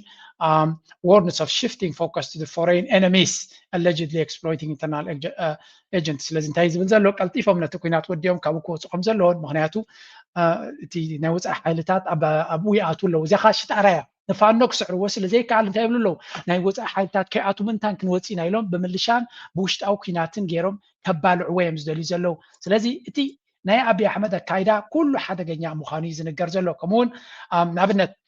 Speaker 1: ዋርንስ ኦፍ ሽፍቲንግ ፎከስ ቱ ፎሬን ኤነሚስ ኣለጅድሊ ኤክስፕሎይቲንግ ኢንተርናል ኤጀንት ስለዚ እንታይ ዝብል ዘሎ ቀልጢፎም ነቲ ኩናት ወዲኦም ካብኡ ክወፁ ከም ዘለዎን ምክንያቱ እቲ ናይ ወፃኢ ሓይልታት ኣብኡ ይኣትዉ ኣለዉ እዚኣ ከዓ ሽጣራ እያ ንፋኖ ክስዕርዎ ስለ ዘይከኣል እንታይ ይብሉ ኣለዉ ናይ ወፃኢ ሓይልታት ከይኣቱ ምንታን ክንወፅእ ኢና ኢሎም ብምልሻን ብውሽጣዊ ኩናትን ገይሮም ከባልዕዎ እዮም ዝደልዩ ዘለዉ ስለዚ እቲ ናይ ኣብዪ ኣሕመድ ኣካይዳ ኩሉ ሓደገኛ ምዃኑ እዩ ዝንገር ዘሎ ከምኡውን ንኣብነት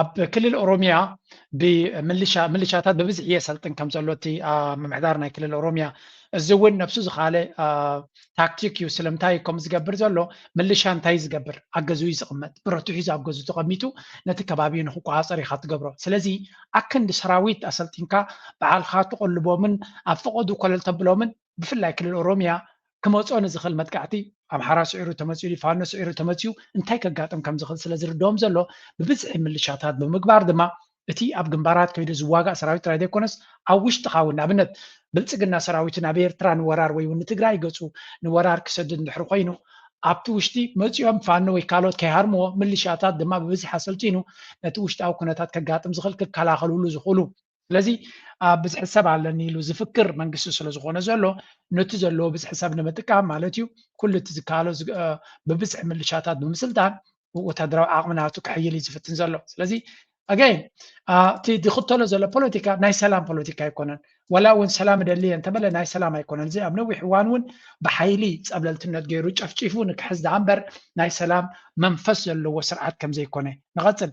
Speaker 1: ኣብ ክልል ኦሮሚያ ብምልሻ ምልሻታት ብብዝሒ የሰልጥን ከም ዘሎ እቲ ምምሕዳር ናይ ክልል ኦሮሚያ እዚ እውን ነብሱ ዝኻለ ታክቲክ እዩ ስለምንታይ ከም ዝገብር ዘሎ ምልሻ እንታይ ዝገብር ኣብ ገዝኡ ዝቕመጥ ብረቱ ሒዙ ኣብ ገዝኡ ተቐሚጡ ነቲ ከባቢ ንክቆፃፀር ኢኻ ትገብሮ ስለዚ ኣክንዲ ሰራዊት ኣሰልጢንካ በዓልካ ትቐልቦምን ኣብ ፈቐዱ ኮለል ተብሎምን ብፍላይ ክልል ኦሮሚያ ክመጾ ንዝኽእል መጥቃዕቲ ኣምሓራ ስዒሩ ተመጺኡ ድዩ ፋኖ ስዒሩ ተመጺኡ እንታይ ከጋጥም ከም ዝኽእል ስለ ዝርድኦም ዘሎ ብብዝሒ ምልሻታት ብምግባር ድማ እቲ ኣብ ግንባራት ከይዱ ዝዋጋእ ሰራዊት ጥራይ ዘይኮነስ ኣብ ውሽጥኻ እውን ንኣብነት ብልጽግና ሰራዊቱ ናብ ኤርትራ ንወራር ወይ እውን ንትግራይ ገጹ ንወራር ክሰድድ እንድሕሪ ኮይኑ ኣብቲ ውሽጢ መጺኦም ፋኖ ወይ ካልኦት ከይሃርምዎ ምልሻታት ድማ ብብዝሒ ኣሰልጢኑ ነቲ ውሽጣዊ ኩነታት ከጋጥም ዝኽእል ክከላኸልሉ ዝኽእሉ ስለዚ ኣብ ብዝሒ ሰብ ኣለኒ ኢሉ ዝፍክር መንግስቲ ስለዝኾነ ዘሎ ነቲ ዘለዎ ብዝሒ ሰብ ንምጥቃም ማለት እዩ ኩሉ እቲ ዝከኣሎ ብብዝሒ ምልሻታት ብምስልጣን ወታደራዊ ዓቕሚ ናቱ ክሕይል እዩ ዝፍትን ዘሎ ስለዚ ኣገይን እቲ ዝኽተሎ ዘሎ ፖለቲካ ናይ ሰላም ፖለቲካ ኣይኮነን ወላ እውን ሰላም እደሊ እየ እንተበለ ናይ ሰላም ኣይኮነን እዚ ኣብ ነዊሕ እዋን እውን ብሓይሊ ፀብለልትነት ገይሩ ጨፍጪፉ ንክሕዝ ደኣ እምበር ናይ ሰላም መንፈስ ዘለዎ ስርዓት ከም ዘይኮነ ንቐፅል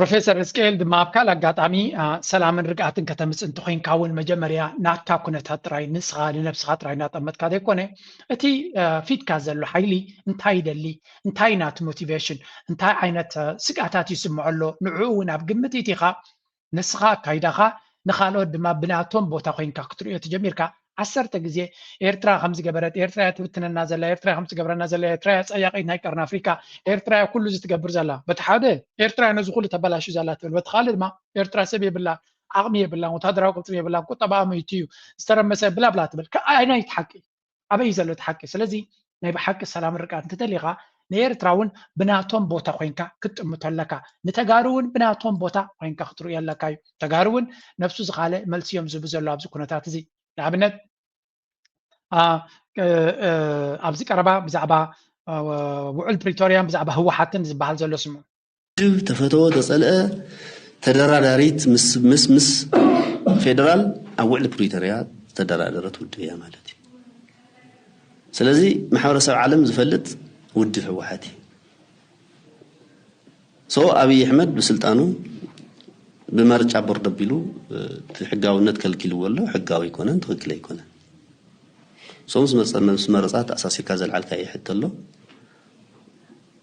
Speaker 7: ፕሮፌሰር
Speaker 1: ህዝቅኤል ድማ ኣብ ካልእ ኣጋጣሚ ሰላምን ርግኣትን ከተምፅእ እንተኮይንካ እውን መጀመርያ ናትካ ኩነታት ጥራይ ንስኻ ንነብስኻ ጥራይ እናጠመትካ ዘይኮነ እቲ ፊትካ ዘሎ ሓይሊ እንታይ ይደሊ እንታይ እዩ ናቲ ሞቲቬሽን እንታይ ዓይነት ስግኣታት ይስምዖ ኣሎ ንዕኡ እውን ኣብ ግምት ኢቲኻ ንስኻ ኣካይዳኻ ንካልኦት ድማ ብናቶም ቦታ ኮይንካ ክትርእዮ ተጀሚርካ ዓሰርተ ግዜ ኤርትራ ከም ዝገበረት ኤርትራ እያ ትብትነና ዘላ ኤርትራ ከም ትገብረና ዘላ ኤርትራ እያ ጸያቂት ናይ ቀርኒ ኣፍሪካ ኤርትራ እያ ኩሉ እዚ ትገብር ዘላ በቲ ሓደ ኤርትራ ነዚ ኩሉ ተበላሹ ዘላ ትብል በቲ ካልእ ድማ ኤርትራ ሰብ የብላ ዓቕሚ የብላን ወታደራዊ ቅልጥም የብላን ቁጠባኣ ምይቱ እዩ ዝተረመሰ ብላብላ ትብል ኣየናይ ሓቂ ኣበይ ዘሎ እቲ ሓቂ ስለዚ ናይ ብሓቂ ሰላም ርቃት እንትደሊኻ ንኤርትራ ውን ብናቶም ቦታ ኮንካ ክትጥምቶ ኣለካ ንተጋሩ ውን ብናቶም ቦታ ኮንካ ክትርእዮ ኣለካ እዩ ተጋሩ ውን ነብሱ ዝኻለ መልሲ እዮም ዝህቡ ዘሎ ኣብዚ ኩነታት እዚ ንኣብነት ኣብዚ ቀረባ ብዛዕባ ውዑል ፕሪቶርያን ብዛዕባ ህወሓትን ዝበሃል ዘሎ ስምዑ ውድብ ተፈተወ
Speaker 8: ተፀልአ ተደራዳሪት ምስ ምስ ፌደራል ኣብ ውዕሊ ፕሪቶሪያ ዝተደራደረት ውድብ እያ ማለት እዩ። ስለዚ ማሕበረሰብ ዓለም ዝፈልጥ ውድብ ህወሓት እዩ። ሶ ኣብይ ኣሕመድ ብስልጣኑ ብመርጫ ቦርድ ኣቢሉ ሕጋውነት ከልኪልዎ ኣሎ። ሕጋዊ ኣይኮነን፣ ትኽክል ኣይኮነን። ሶ ምስ መረፃ ተኣሳሲርካ ዘልዓልካዮ ሕቶ ኣሎ።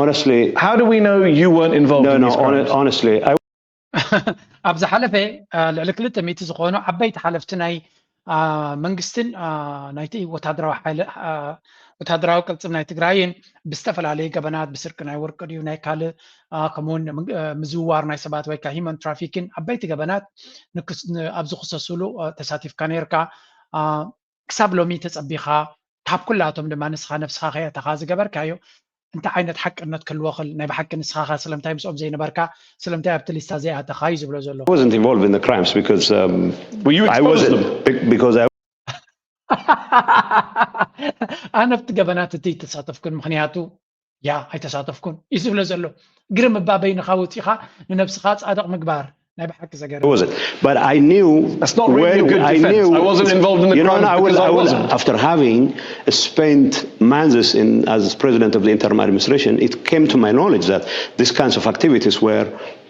Speaker 2: Honestly, how
Speaker 3: do we know
Speaker 2: you weren't involved no, in no, these crimes? honestly, I...
Speaker 1: ኣብ ዝሓለፈ ልዕሊ ክልተ ሚእቲ ዝኾኑ ዓበይቲ ሓለፍቲ ናይ መንግስትን ናይቲ ወታደራዊ ሓይሊ ወታደራዊ ቅልፅም ናይ ትግራይን ብዝተፈላለዩ ገበናት ብስርቂ ናይ ወርቂ ድዩ ናይ ካልእ ከምኡውን ምዝውዋር ናይ ሰባት ወይ ከዓ ሂማን ትራፊክን ዓበይቲ ገበናት ኣብ ዝክሰስሉ ተሳቲፍካ ነርካ ክሳብ ሎሚ ተጸቢኻ ካብ ኩላቶም ድማ ንስኻ ነብስኻ ከየእተኻ ዝገበርካዮ እንታይ ዓይነት ሓቅነት ክህልዎ ክል ናይ ብሓቂ ንስኻ ከ ስለምታይ ምስኦም ዘይነበርካ ስለምታይ ኣብቲ ሊስታ ዘይኣተኻ እዩ ዝብሎ ዘሎ። wasn't involved in the crimes
Speaker 3: because um, well, you I wasn't them. because I
Speaker 1: ኣነ ኣብቲ ገበናት እቲ ተሳተፍኩን ምክንያቱ ያ ኣይተሳተፍኩን እዩ ዝብለ ዘሎ ግርም እባ በይንኻ ወፂኻ ንነብስኻ ፃድቕ ምግባር ናይ
Speaker 2: ብሓቂ
Speaker 3: ዘገርም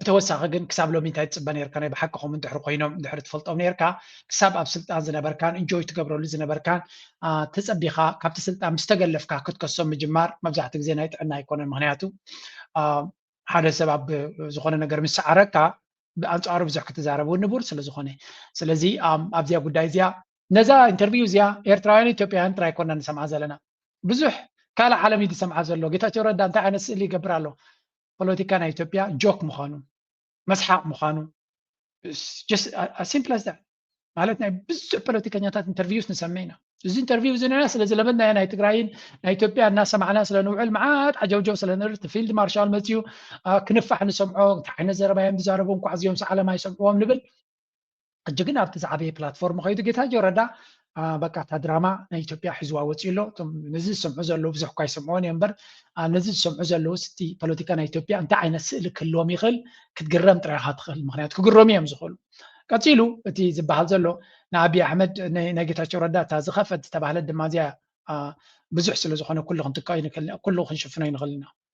Speaker 1: ብተወሳኺ ግን ክሳብ ሎሚ እንታይ ትፅበ ነርካ ናይ ብሓቅኹም እንድሕር ኮይኖም እንድሕር ትፈልጦም ነርካ ክሳብ ኣብ ስልጣን ዝነበርካን እንጆይ ትገብረሉ ዝነበርካን ተፀቢኻ ካብቲ ስልጣን ምስ ተገለፍካ ክትከሶም ምጅማር መብዛሕትኡ ግዜ ናይ ጥዕና ኣይኮነን ምክንያቱ ሓደ ሰብ ኣብ ዝኾነ ነገር ምስ ሰዓረካ ብኣንፃሩ ብዙሕ ክትዛረብ እውን ንቡር ስለ ዝኾነ ስለዚ ኣብዚኣ ጉዳይ እዚኣ ነዛ ኢንተርቪው እዚኣ ኤርትራውያን ኢትዮጵያውያን ጥራይ ኮና ንሰምዓ ዘለና ብዙሕ ካልእ ዓለም እዩ ዝሰምዓ ዘሎ ጌታቸው ረዳ እንታይ ዓይነት ስእሊ ይገብር ኣሎ ፖለቲካ ናይ ኢትዮጵያ ጆክ ምዃኑ መስሓቕ ምዃኑ ሲምፕል ኣስ ማለት ናይ ብዙሕ ፖለቲከኛታት ኢንተርቪውስ ንሰምዕ ኢና እዚ ኢንተርቪው እዚ ንና ስለ ዝለመድናዮ ናይ ትግራይን ናይ ኢትዮጵያ እናሰማዕና ስለ ንውዕል መዓት ዓጀውጀው ስለ ንርኢ እቲ ፊልድ ማርሻል መፅኡ ክንፋሕ ንሰምዖ እንታይ ዓይነት ዘረባ እዮም ዝዛረቡ እንኳዕ እዚኦም ሰዓለም ኣይሰምዕዎም ንብል ሕጂ ግን ኣብቲ ዝዓበየ ፕላትፎርም ከይዱ ጌታቸው ረዳ በቃ እታ ድራማ ናይ ኢትዮጵያ ሒዝዋ ወፂኡ ኣሎ እቶም ነዚ ዝሰምዑ ዘለዉ ብዙሕ እኳ ይሰምዕዎን እዮም እምበር ነዚ ዝሰምዑ ዘለዉ ስቲ ፖለቲካ ናይ ኢትዮጵያ እንታይ ዓይነት ስእሊ ክህልዎም ይኽእል ክትግረም ጥራይ ኢኻ ትኽእል ምክንያቱ ክግረሙ እዮም ዝኽእሉ ቀፂሉ እቲ ዝበሃል ዘሎ ንኣብዪ ኣሕመድ ናይ ጌታቸው ረዳ እታ ዝኸፈት ዝተባህለት ድማ እዚያ ብዙሕ ስለ ዝኾነ ኩሉ ክንጥቀ ኩሉ ክንሽፍኖ ይንኽእል ኢና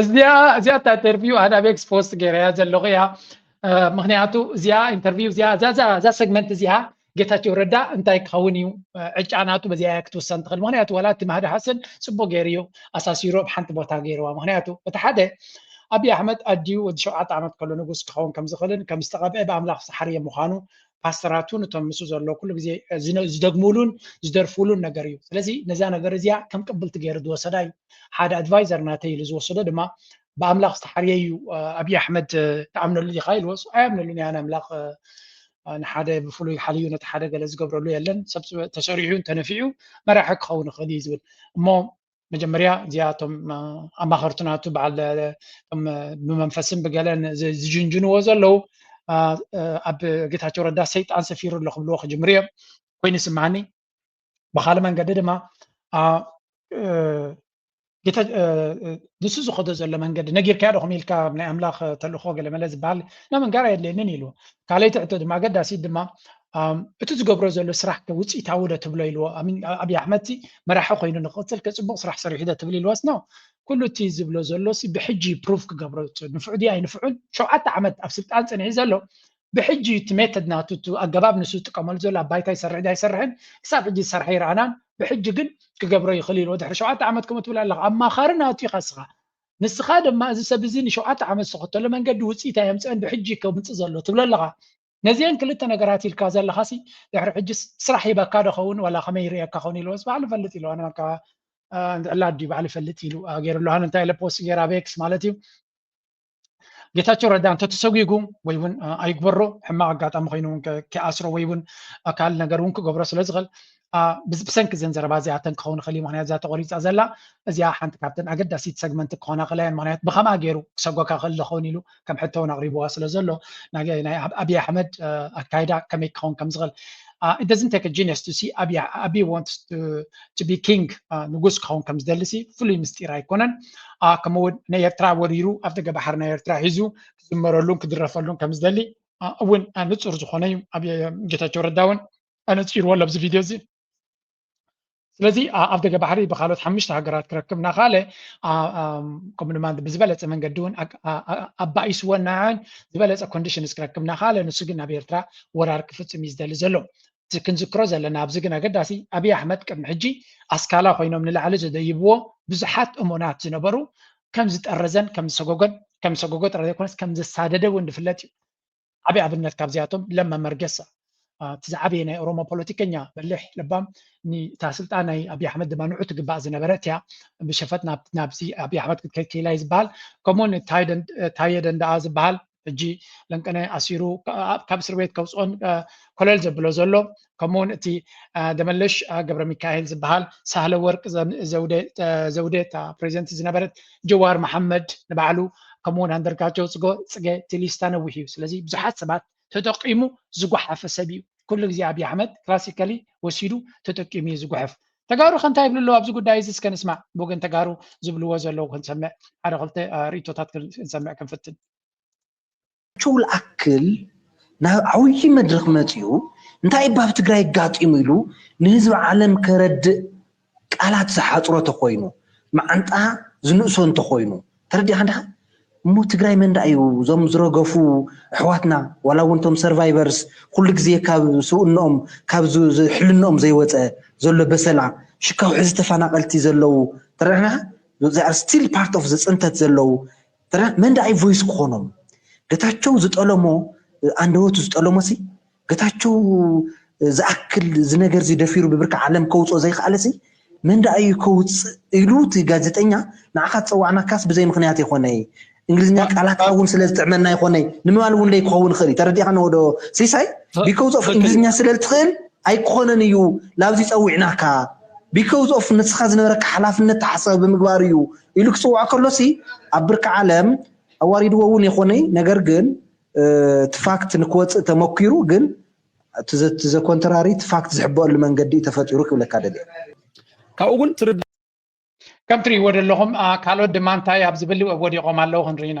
Speaker 1: እዚኣ እዚኣ እታ ኢንተርቪው ኣነ ኣብ ኤክስ ፖስት ገይረያ ዘለኹ እያ ምክንያቱ እዚኣ ኢንተርቪው እዚኣ እዛ ሰግመንት እዚኣ ጌታቸው ረዳ እንታይ ክኸውን እዩ ዕጫ ናቱ በዚኣ እያ ክትውሰን ትኽእል ምክንያቱ ዋላ እቲ ማህዲ ሓሰን ፅቡቅ ገይሩ እዩ ኣሳሲሩ ኣብ ሓንቲ ቦታ ገይርዋ ምክንያቱ እቲ ሓደ ኣብዪ ኣሕመድ ኣድዩ ወዲ ሸውዓተ ዓመት ከሎ ንጉስ ክኸውን ከም ዝኽእልን ከም ዝተቐብአ ብኣምላኽ ዝሓርየ ምዃኑ ፓስተራቱን እቶም ምስ ዘሎ ኩሉ ግዜ ዝደግሙሉን ዝደርፉሉን ነገር እዩ ስለዚ ነዛ ነገር እዚኣ ከም ቅብልቲ ገይሩ ዝወሰዳ እዩ ሓደ ኣድቫይዘር ናተይ ኢሉ ዝወሰዶ ድማ ብኣምላኽ ዝተሓርየ እዩ ኣብዪ ኣሕመድ ትኣምነሉ ኢኻ ኢልዎስ ኣያምነሉን እያ ንኣምላኽ ንሓደ ብፍሉይ ሓልዩ ነቲ ሓደ ገለ ዝገብረሉ የለን ሰብ ተሰሪዑን ተነፊዑ መራሒ ክኸውን ይኽእል እዩ ዝብል እሞ መጀመርያ እዚኣ እቶም ኣማኸርቲ ናቱ በዓል ብመንፈስን ብገለን ዝጅንጅንዎ ዘለዉ ኣብ ጌታቸው ረዳ ሰይጣን ሰፊሩ ኣሎ ክብልዎ ክጅምሩ እዮም ኮይኑ ይስምዓኒ ብካልእ መንገዲ ድማ ንሱ ዝኸዶ ዘሎ መንገዲ ነጊርካዮ ዶኹም ኢልካ ናይ ኣምላኽ ተልእኮ ገለመለ ዝበሃል ናብ እንጋር ኣየድልየንን ኢሉ ካልኣይቲ ሕቶ ድማ ኣገዳሲት ድማ እቲ ዝገብሮ ዘሎ ስራሕ ከ ውፅኢታዊ ዶ ትብሎ ኢልዎ ኣብይ ኣሕመድ ሲ መራሒ ኮይኑ ንክቕፅል ከ ፅቡቕ ስራሕ ሰሪሑ ዶ ትብል ኢልዎስ ኖ ኩሉ እቲ ዝብሎ ዘሎ ሲ ብሕጂ እዩ ፕሩቭ ክገብሮ ንፍዑ ድዩ ኣይንፍዑን ሸውዓተ ዓመት ኣብ ስልጣን ፅንሒ ዘሎ ብሕጂ እዩ እቲ ሜተድ ናቱ እቲ ኣገባብ ንሱ ዝጥቀመሉ ዘሎ ኣብ ባይታ ይሰርሕ ዶ ኣይሰርሕን ክሳብ ሕጂ ዝሰርሐ ይረኣናን ብሕጂ ግን ክገብሮ ይኽእል ኢልዎ ድሕሪ ሸውዓተ ዓመት ከምኡ ትብል ኣለኻ ኣማኻሪ ናቱ ኢኻ ንስኻ ንስኻ ድማ እዚ ሰብ እዚ ንሸውዓተ ዓመት ዝተኸተሎ መንገዲ ውፅኢት ኣየምፀአን ብሕጂ ከምፅእ ዘሎ ትብሎ ኣለኻ ነዚኤን ክልተ ነገራት ኢልካ ዘለኻሲ ድሕሪ ሕጅስ ስራሕ ሂበካ ዶ ኸውን ዋላ ከመይ ይርእየካ ኸውን ኢልዎስ ባዕሉ ይፈልጥ ኢልዋ ንበልካ ዕላ ድዩ ባዕሉ ይፈልጥ ኢሉ ገይርሉ ሃን እንታይ ኢለ ፖስት ገይራ ቤክስ ማለት እዩ ጌታቸው ረዳ እንተ ተሰጒጉ ወይ እውን ኣይግበሮ ሕማቕ ኣጋጣሚ ኮይኑ እውን ከይኣስሮ ወይ እውን ካልእ ነገር እውን ክገብሮ ስለ ዝኽእል ብሰንኪ ዘን ዘረባ እዚኣተን ክኸውን ይኽእል እዩ ምክንያት እዛ ተቆሪፃ ዘላ እዚኣ ሓንቲ ካብተን ኣገዳሲት ሰግመንት ክኾና ክእላ እየን ምክንያት ብከምኣ ገይሩ ክሰጎካ ክእል ዝኸውን ኢሉ ከም ሕቶ እውን ኣቕሪብዋ ስለ ዘሎ ናይ ኣብይ ኣሕመድ ኣካይዳ ከመይ ክኸውን ከም ዝኽእል it doesn't take a genius to see ኣቢ ኣቢ wants to, to be king ንጉስ ክኸውን ከም ዝደልሲ ፍሉይ ምስጢር ኣይኮነን ከምኡ እውን ንኤርትራ ወሪሩ ኣብ ደገ ባሕሪ ናይ ኤርትራ ሒዙ ክዝመረሉን ክድረፈሉን ከም ዝደሊ እውን ንፁር ዝኾነ እዩ ኣብ ጌታቸው ረዳ እውን ኣነጺርዎ ኣሎ ኣብዚ ቪድዮ እዚ ስለዚ ኣብ ደገ ባሕሪ ብካልኦት ሓሙሽተ ሃገራት ክረክብ እናኸኣለ ከምኡ ድማ ብዝበለፀ መንገዲ እውን ኣባኢስዎ እናዓን ዝበለፀ ኮንዲሽንስ ክረክብ እናኸኣለ ንሱ ግን ኣብ ኤርትራ ወራር ክፍፅም እዩ ዝደሊ ዘሎ እዚ ክንዝክሮ ዘለና ኣብዚ ግን ኣገዳሲ ኣብዪ ኣሕመድ ቅድሚ ሕጂ ኣስካላ ኮይኖም ንላዕሊ ዘደይብዎ ብዙሓት እሙናት ዝነበሩ ከም ዝጠረዘን ከም ዝሰጎጎን ከም ዝሰጎጎ ጥራይ ዘይኮነስ ከም ዘሳደደ እውን ዝፍለጥ እዩ ዓቢ ኣብነት ካብዚኣቶም ለማ መርገሳ እቲ ዝዓበየ ናይ ኦሮሞ ፖለቲከኛ በሊሕ ለባም ንታ ስልጣን ናይ ኣብይ ኣሕመድ ድማ ንዑ ትግባእ ዝነበረት እያ ብሸፈጥ ናብዚ ኣብይ ኣሕመድ ክትከይድ ክኢላ ዝበሃል ከምኡውን ታየ ደንዳኣ ዝበሃል ሕጂ ለንቀነ ኣሲሩ ካብ እስር ቤት ከውፅኦን ኮለል ዘብሎ ዘሎ ከምኡ እውን እቲ ደመለሽ ገብረሚካኤል ዝበሃል ሳህለ ወርቅ ዘውዴ እታ ፕሬዚደንት ዝነበረት ጀዋር መሓመድ ንባዕሉ ከምኡ እውን ኣንደርጋቸው ፅገ ቴሊስታ ነዊሕ እዩ ስለዚ ብዙሓት ሰባት ተጠቂሙ ዝጓሓፈ ሰብ እዩ ኩሉ ግዜ ኣብዪ ኣሕመድ ክላሲካሊ ወሲዱ ተጠቂሙ እዩ ዝጉሕፍ ተጋሩ ከ እንታይ ይብሉ ኣለዉ ኣብዚ ጉዳይ እዚ እስከ ንስማዕ ብወገን ተጋሩ ዝብልዎ ዘለዉ ክንሰምዕ ሓደ ክልተ ርእቶታት ክንሰምዕ ክንፍትን
Speaker 9: ጌታቸው ልኣክል ናብ ዓብዪ መድረኽ መፂኡ እንታይ እባ ኣብ ትግራይ ኣጋጢሙ ኢሉ ንህዝቢ ዓለም ከረድእ ቃላት ዝሓፅሮ እንተኾይኑ መዓንጣ ዝንእሶ እንተኾይኑ ተረዲእኻ ድኻ? እሞ ትግራይ መን ደኣ እዩ እዞም ዝረገፉ ኣሕዋትና ዋላ እውን እቶም ሰርቫይቨርስ ኩሉ ግዜ ካብ ስብእንኦም ካብ ዝ- ዝ- ሕልንኦም ዘይወፀ ዘሎ በሰላ ሽካው ሕዚ ተፈናቐልቲ ዘለዉ ተረድእኻ? they are still part of the ፅንተት ዘለዉ ተራ መን ደኣይ ቮይስ ክኾኖም ገታቸው ዝጠለሞ ኣንደበቱ ዝጠለሞሲ ገታቸው ዝኣክል ዝነገርዚ ደፊሩ ብብርኪ ዓለም ከውፅኦ ዘይክኣለሲ መን ደኣዩ ከውፅእ ኢሉ እቲ ጋዜጠኛ ንዓኻ ዝፀዋዕናካስ ብዘይ ምክንያት ይኾነይ እንግሊዝኛ ቃላትካ እውን ስለ ዝጥዕመና ይኾነይ ንምባል እውን ለይ ክኸውን ይኽእል እዩ ተረዲእኻ ነወዶ ሲሳይ ቢኮዝ ኦፍ እንግሊዝኛ ስለ ዝትኽእል ኣይክኾነን እዩ ላብዚ ፀዊዕናካ ቢኮዝ ኦፍ ንስኻ ዝነበረካ ሓላፍነት ተሓሳቢ ብምግባር እዩ ኢሉ ክጽውዖ ከሎሲ ኣብ ብርኪ ዓለም ኣዋሪድዎ እውን ይኾንይ ነገር ግን እቲ ፋክት ንክወጽእ ተመኪሩ ግን እቲ ዘኮንተራሪ እቲ ፋክት ዝሕበኣሉ መንገዲ ተፈጢሩ ክብለካ ደልየ ካብኡ ግን
Speaker 1: ትርድ ከም ትርእይዎ ዘለኹም ካልኦት ድማ እንታይ ኣብ ዝብል ወዲቖም ኣለዉ ክንርኢና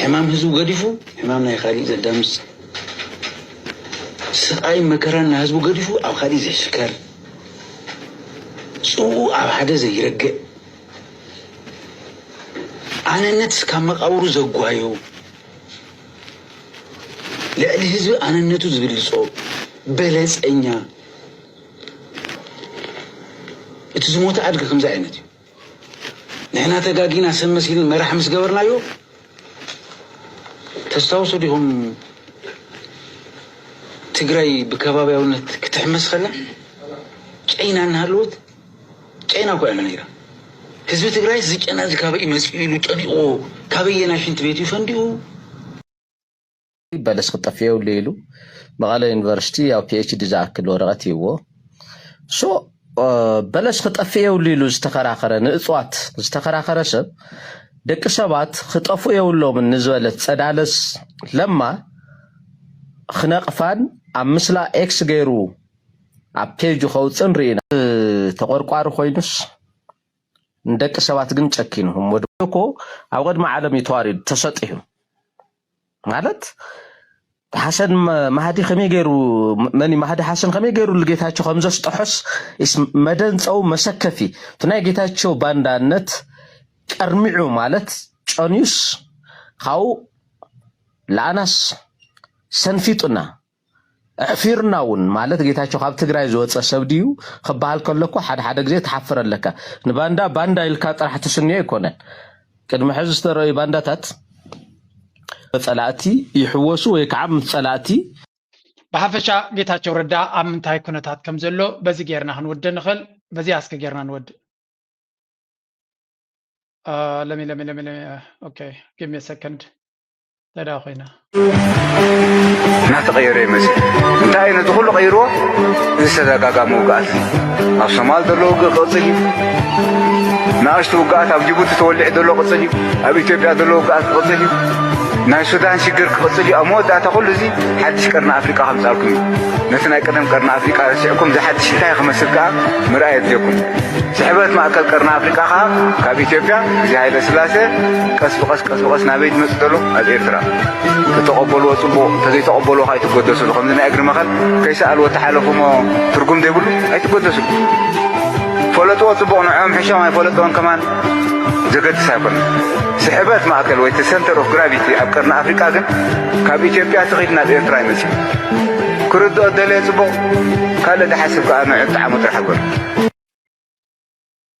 Speaker 10: ሕማም ህዝቡ ገዲፉ ሕማም ናይ ካሊእ ዘዳምፅ ስቃይ መከራን ናይ ህዝቡ ገዲፉ ኣብ ካሊእ ዘይሽከር ፅኡ ኣብ ሓደ ዘይረግእ ኣነነት እስካብ መቃብሩ ዘጓዮ ልዕሊ ህዝቢ ኣነነቱ ዝብልፆ በለፀኛ እቲ ዝሞተ ኣድጊ ከምዚ ዓይነት እዩ። ንሕና ተጋጊና ሰብ መሲልን መራሕ ምስ ገበርናዮ ተስታውሱ ዲኹም ትግራይ ብከባቢያውነት ክትሕመስ ከላ ጨይና እናሃለወት ጨይና እኮ ያለ ነይራ ህዝቢ ትግራይ እዚ ጨና እዚ ካበይ መፅኡ ኢሉ ጨኒቑዎ ካበየና ሽንት ቤት እዩ ፈንዲኡ
Speaker 11: በለስ ክጠፍእ የብሉ ኢሉ መቐለ ዩኒቨርሲቲ ያው ፒኤችዲ ዝኣክል ወረቐት ይዎ ሶ በለስ ክጠፍእ የብሉ ኢሉ ዝተኸራኸረ ንእፅዋት ዝተኸራኸረ ሰብ ደቂ ሰባት ክጠፉ የብሎምን ንዝበለት ፀዳለስ ለማ ክነቕፋን ኣብ ምስላ ኤክስ ገይሩ ኣብ ፔጁ ከውፅን ርኢና ተቆርቋሪ ኮይኑስ ንደቂ ሰባት ግን ጨኪኑ እሞ ድማ እኮ ኣብ ቅድሚ ዓለም እዩ ተዋሪዱ ተሰጢሑ ማለት ሓሰን ማህዲ ከመይ ገይሩ መን ማህዲ ሓሰን ከመይ ገይሩ ንጌታቸው ከም ዘስጠሖስ ኢስ መደንፀው መሰከፊ እቲ ናይ ጌታቸው ባንዳነት ቀርሚዑ ማለት ጨንዩስ ካብኡ ለኣናስ ሰንፊጡና ኣሕፊርና ውን ማለት ጌታቸው ካብ ትግራይ ዝወፀ ሰብ ድዩ ክበሃል ከሎ እኮ ሓደ ሓደ ግዜ ትሓፍር ኣለካ ንባንዳ ባንዳ ኢልካ ጥራሕ ትስንዮ ኣይኮነን ቅድሚ ሕዚ ዝተረዩ ባንዳታት ጸላእቲ ይሕወሱ ወይ ከዓ ምስ ጸላእቲ ብሓፈሻ
Speaker 1: ጌታቸው ረዳ ኣብ ምንታይ ኩነታት ከም ዘሎ በዚ ጌርና ክንውድእ ንኽእል በዚኣ እስከ ጌርና ንወድእ ለሚ ለሚ ለሚ ለሚ ኦኬ ጊቭ ሚ ሰከንድ ተዳ ኮይና
Speaker 12: እናተቐየረ እዩ መፅ እንታይ እዩ ነቲ ኩሉ ቀይርዎ እዚ ዝተዘጋጋሚ ውግኣት ኣብ ሶማል ዘሎ ውግእ ክቕፅል እዩ ንኣሽቱ ውግኣት ኣብ ጅቡቲ ተወሊዑ ዘሎ ቅፅል እዩ ኣብ ኢትዮጵያ ዘሎ ውግኣት ክቕፅል እዩ ናይ ሱዳን ሽግር ክቕፅል እዩ ኣብ መወዳእታ ኩሉ እዚ ሓድሽ ቀርኒ ኣፍሪቃ ከምፃልኩም እዩ ነቲ ናይ ቀደም ቀርኒ ኣፍሪቃ ረሲዕኩም ዝሓድሽ እንታይ ክመስል ከዓ ምርኣይ የድልየኩም ስሕበት ማእከል ቀርኒ ኣፍሪቃ ከዓ ካብ ኢትዮጵያ እዚ ሃይለ ስላሴ ቀስ ብቐስ ቀስ ብቐስ ናበይ ዝመጽእ ዘሎ ኣብ ኤርትራ ተተቐበልዎ ጽቡቕ እንተዘይተቐበልዎ ከ ኣይትጎደስሉ ከምዚ ናይ እግሪ መኸል ከይሰኣልዎ ተሓለፉ እሞ ትርጉም ዘይብሉ ኣይትጎደስሉ ፈለጥዎ ጽቡቕ ንዕኦም ሕሾም ኣይፈለጥዎን ከማን ዘገድስ ኣይኮነ ስሕበት ማእከል ወይ እቲ ሰንተር ኦፍ ግራቪቲ ኣብ ቀርኒ ኣፍሪቃ ግን ካብ ኢትዮጵያ ትኺድ ናብ ኤርትራ ይመጽእ ክርድኦ ደለየ ጽቡቕ ካልእ ድሓስብ ከኣ ንዑ ጣዕሙ ጥራሕ በሉ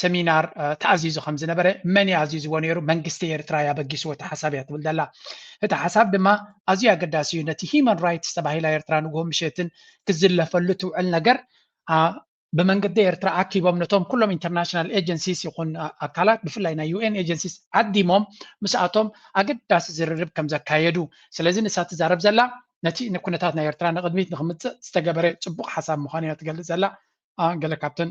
Speaker 1: ሰሚናር ተኣዚዙ ከም ዝነበረ መን እዩ ኣዚዝዎ ነይሩ መንግስቲ ኤርትራ እዩ ኣበጊስዎ እቲ ሓሳብ እያ ትብል ዘላ እቲ ሓሳብ ድማ ኣዝዩ ኣገዳሲ እዩ ነቲ ሂማን ራይትስ ተባሂላ ኤርትራ ንግሆ ምሸትን ክዝለፈሉ ትውዕል ነገር ብመንገዲ ኤርትራ ኣኪቦም ነቶም ኩሎም ኢንተርናሽናል ኤጀንሲስ ይኹን ኣካላት ብፍላይ ናይ ዩኤን ኤጀንሲስ ዓዲሞም ምስኣቶም ኣገዳሲ ዝርርብ ከም ዘካየዱ ስለዚ ንሳ ትዛረብ ዘላ ነቲ ንኩነታት ናይ ኤርትራ ንቅድሚት ንክምፅእ ዝተገበረ ፅቡቅ ሓሳብ ምዃኑ እያ ትገልፅ ዘላ ገለ ካብተን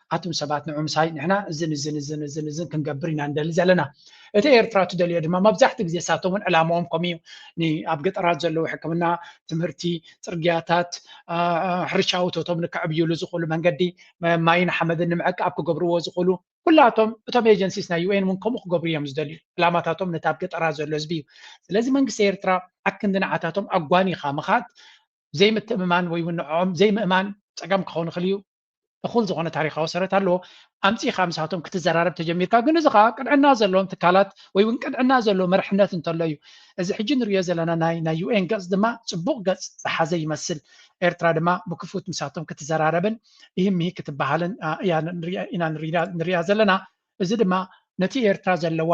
Speaker 1: ኣቱም ሰባት ንዑ ምሳይ ንሕና እዝን እዝን እዝን እዝን እዝን ክንገብር ኢና ንደሊ ዘለና እቲ ኤርትራ ትደልዮ ድማ መብዛሕትኡ ግዜ እሳቶም እውን ዕላማኦም ከምኡ እዩ ኣብ ገጠራት ዘለዉ ሕክምና ትምህርቲ ፅርግያታት ሕርሻዊ እቶቶም ንከዕብይሉ ዝኽእሉ መንገዲ ማይን ሓመድን ንምዕቃብ ክገብርዎ ዝኽእሉ ኩላቶም እቶም ኤጀንሲስ ናይ ዩኤን እውን ከምኡ ክገብሩ እዮም ዝደልዩ ዕላማታቶም ነቲ ኣብ ገጠራት ዘሎ ህዝቢ እዩ ስለዚ መንግስቲ ኤርትራ ኣክንዲ ንዓታቶም ኣጓኒኻ ምኻድ ዘይምትእምማን ወይ እውን ንዕኦም ዘይምእማን ፀገም ክኸውን ይኽእል እዩ እኹል ዝኾነ ታሪኻዊ ሰረት ኣለዎ ኣምፂኻ ምስኣቶም ክትዘራረብ ተጀሚርካ ግን እዚ ከዓ ቅንዕና ዘለዎም ትካላት ወይ እውን ቅንዕና ዘለዎ መርሕነት እንተሎ እዩ እዚ ሕጂ ንሪኦ ዘለና ናይ ናይ ዩኤን ገፅ ድማ ፅቡቕ ገፅ ዝሓዘ ይመስል ኤርትራ ድማ ብክፉት ምስኣቶም ክትዘራረብን ይህምሂ ክትበሃልን ኢና ንሪኣ ዘለና እዚ ድማ ነቲ ኤርትራ ዘለዋ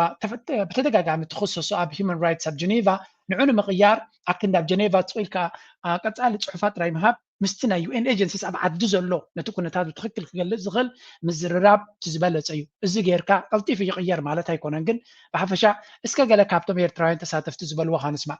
Speaker 1: ብተደጋጋሚ ትኽሰሶ ኣብ ሂዩማን ራይትስ ኣብ ጀኔቫ ንዑ ንምቕያር ኣብ ክንዲ ኣብ ጀኔቫ ስቕ ኢልካ ቀጻሊ ጽሑፋት ጥራይ ምሃብ ምስቲ ናይ ዩኤን ኤጀንሲስ ኣብ ዓዲ ዘሎ ነቲ ኩነታት ብትኽክል ክገልጽ ዝኽእል ምዝርራብ እቲ ዝበለጸ እዩ። እዚ ጌርካ ቀልጢፉ ይቕየር ማለት ኣይኮነን ግን ብሓፈሻ እስከ ገለ ካብቶም ኤርትራውያን ተሳተፍቲ ዝበልዎ ሃንስማዕ።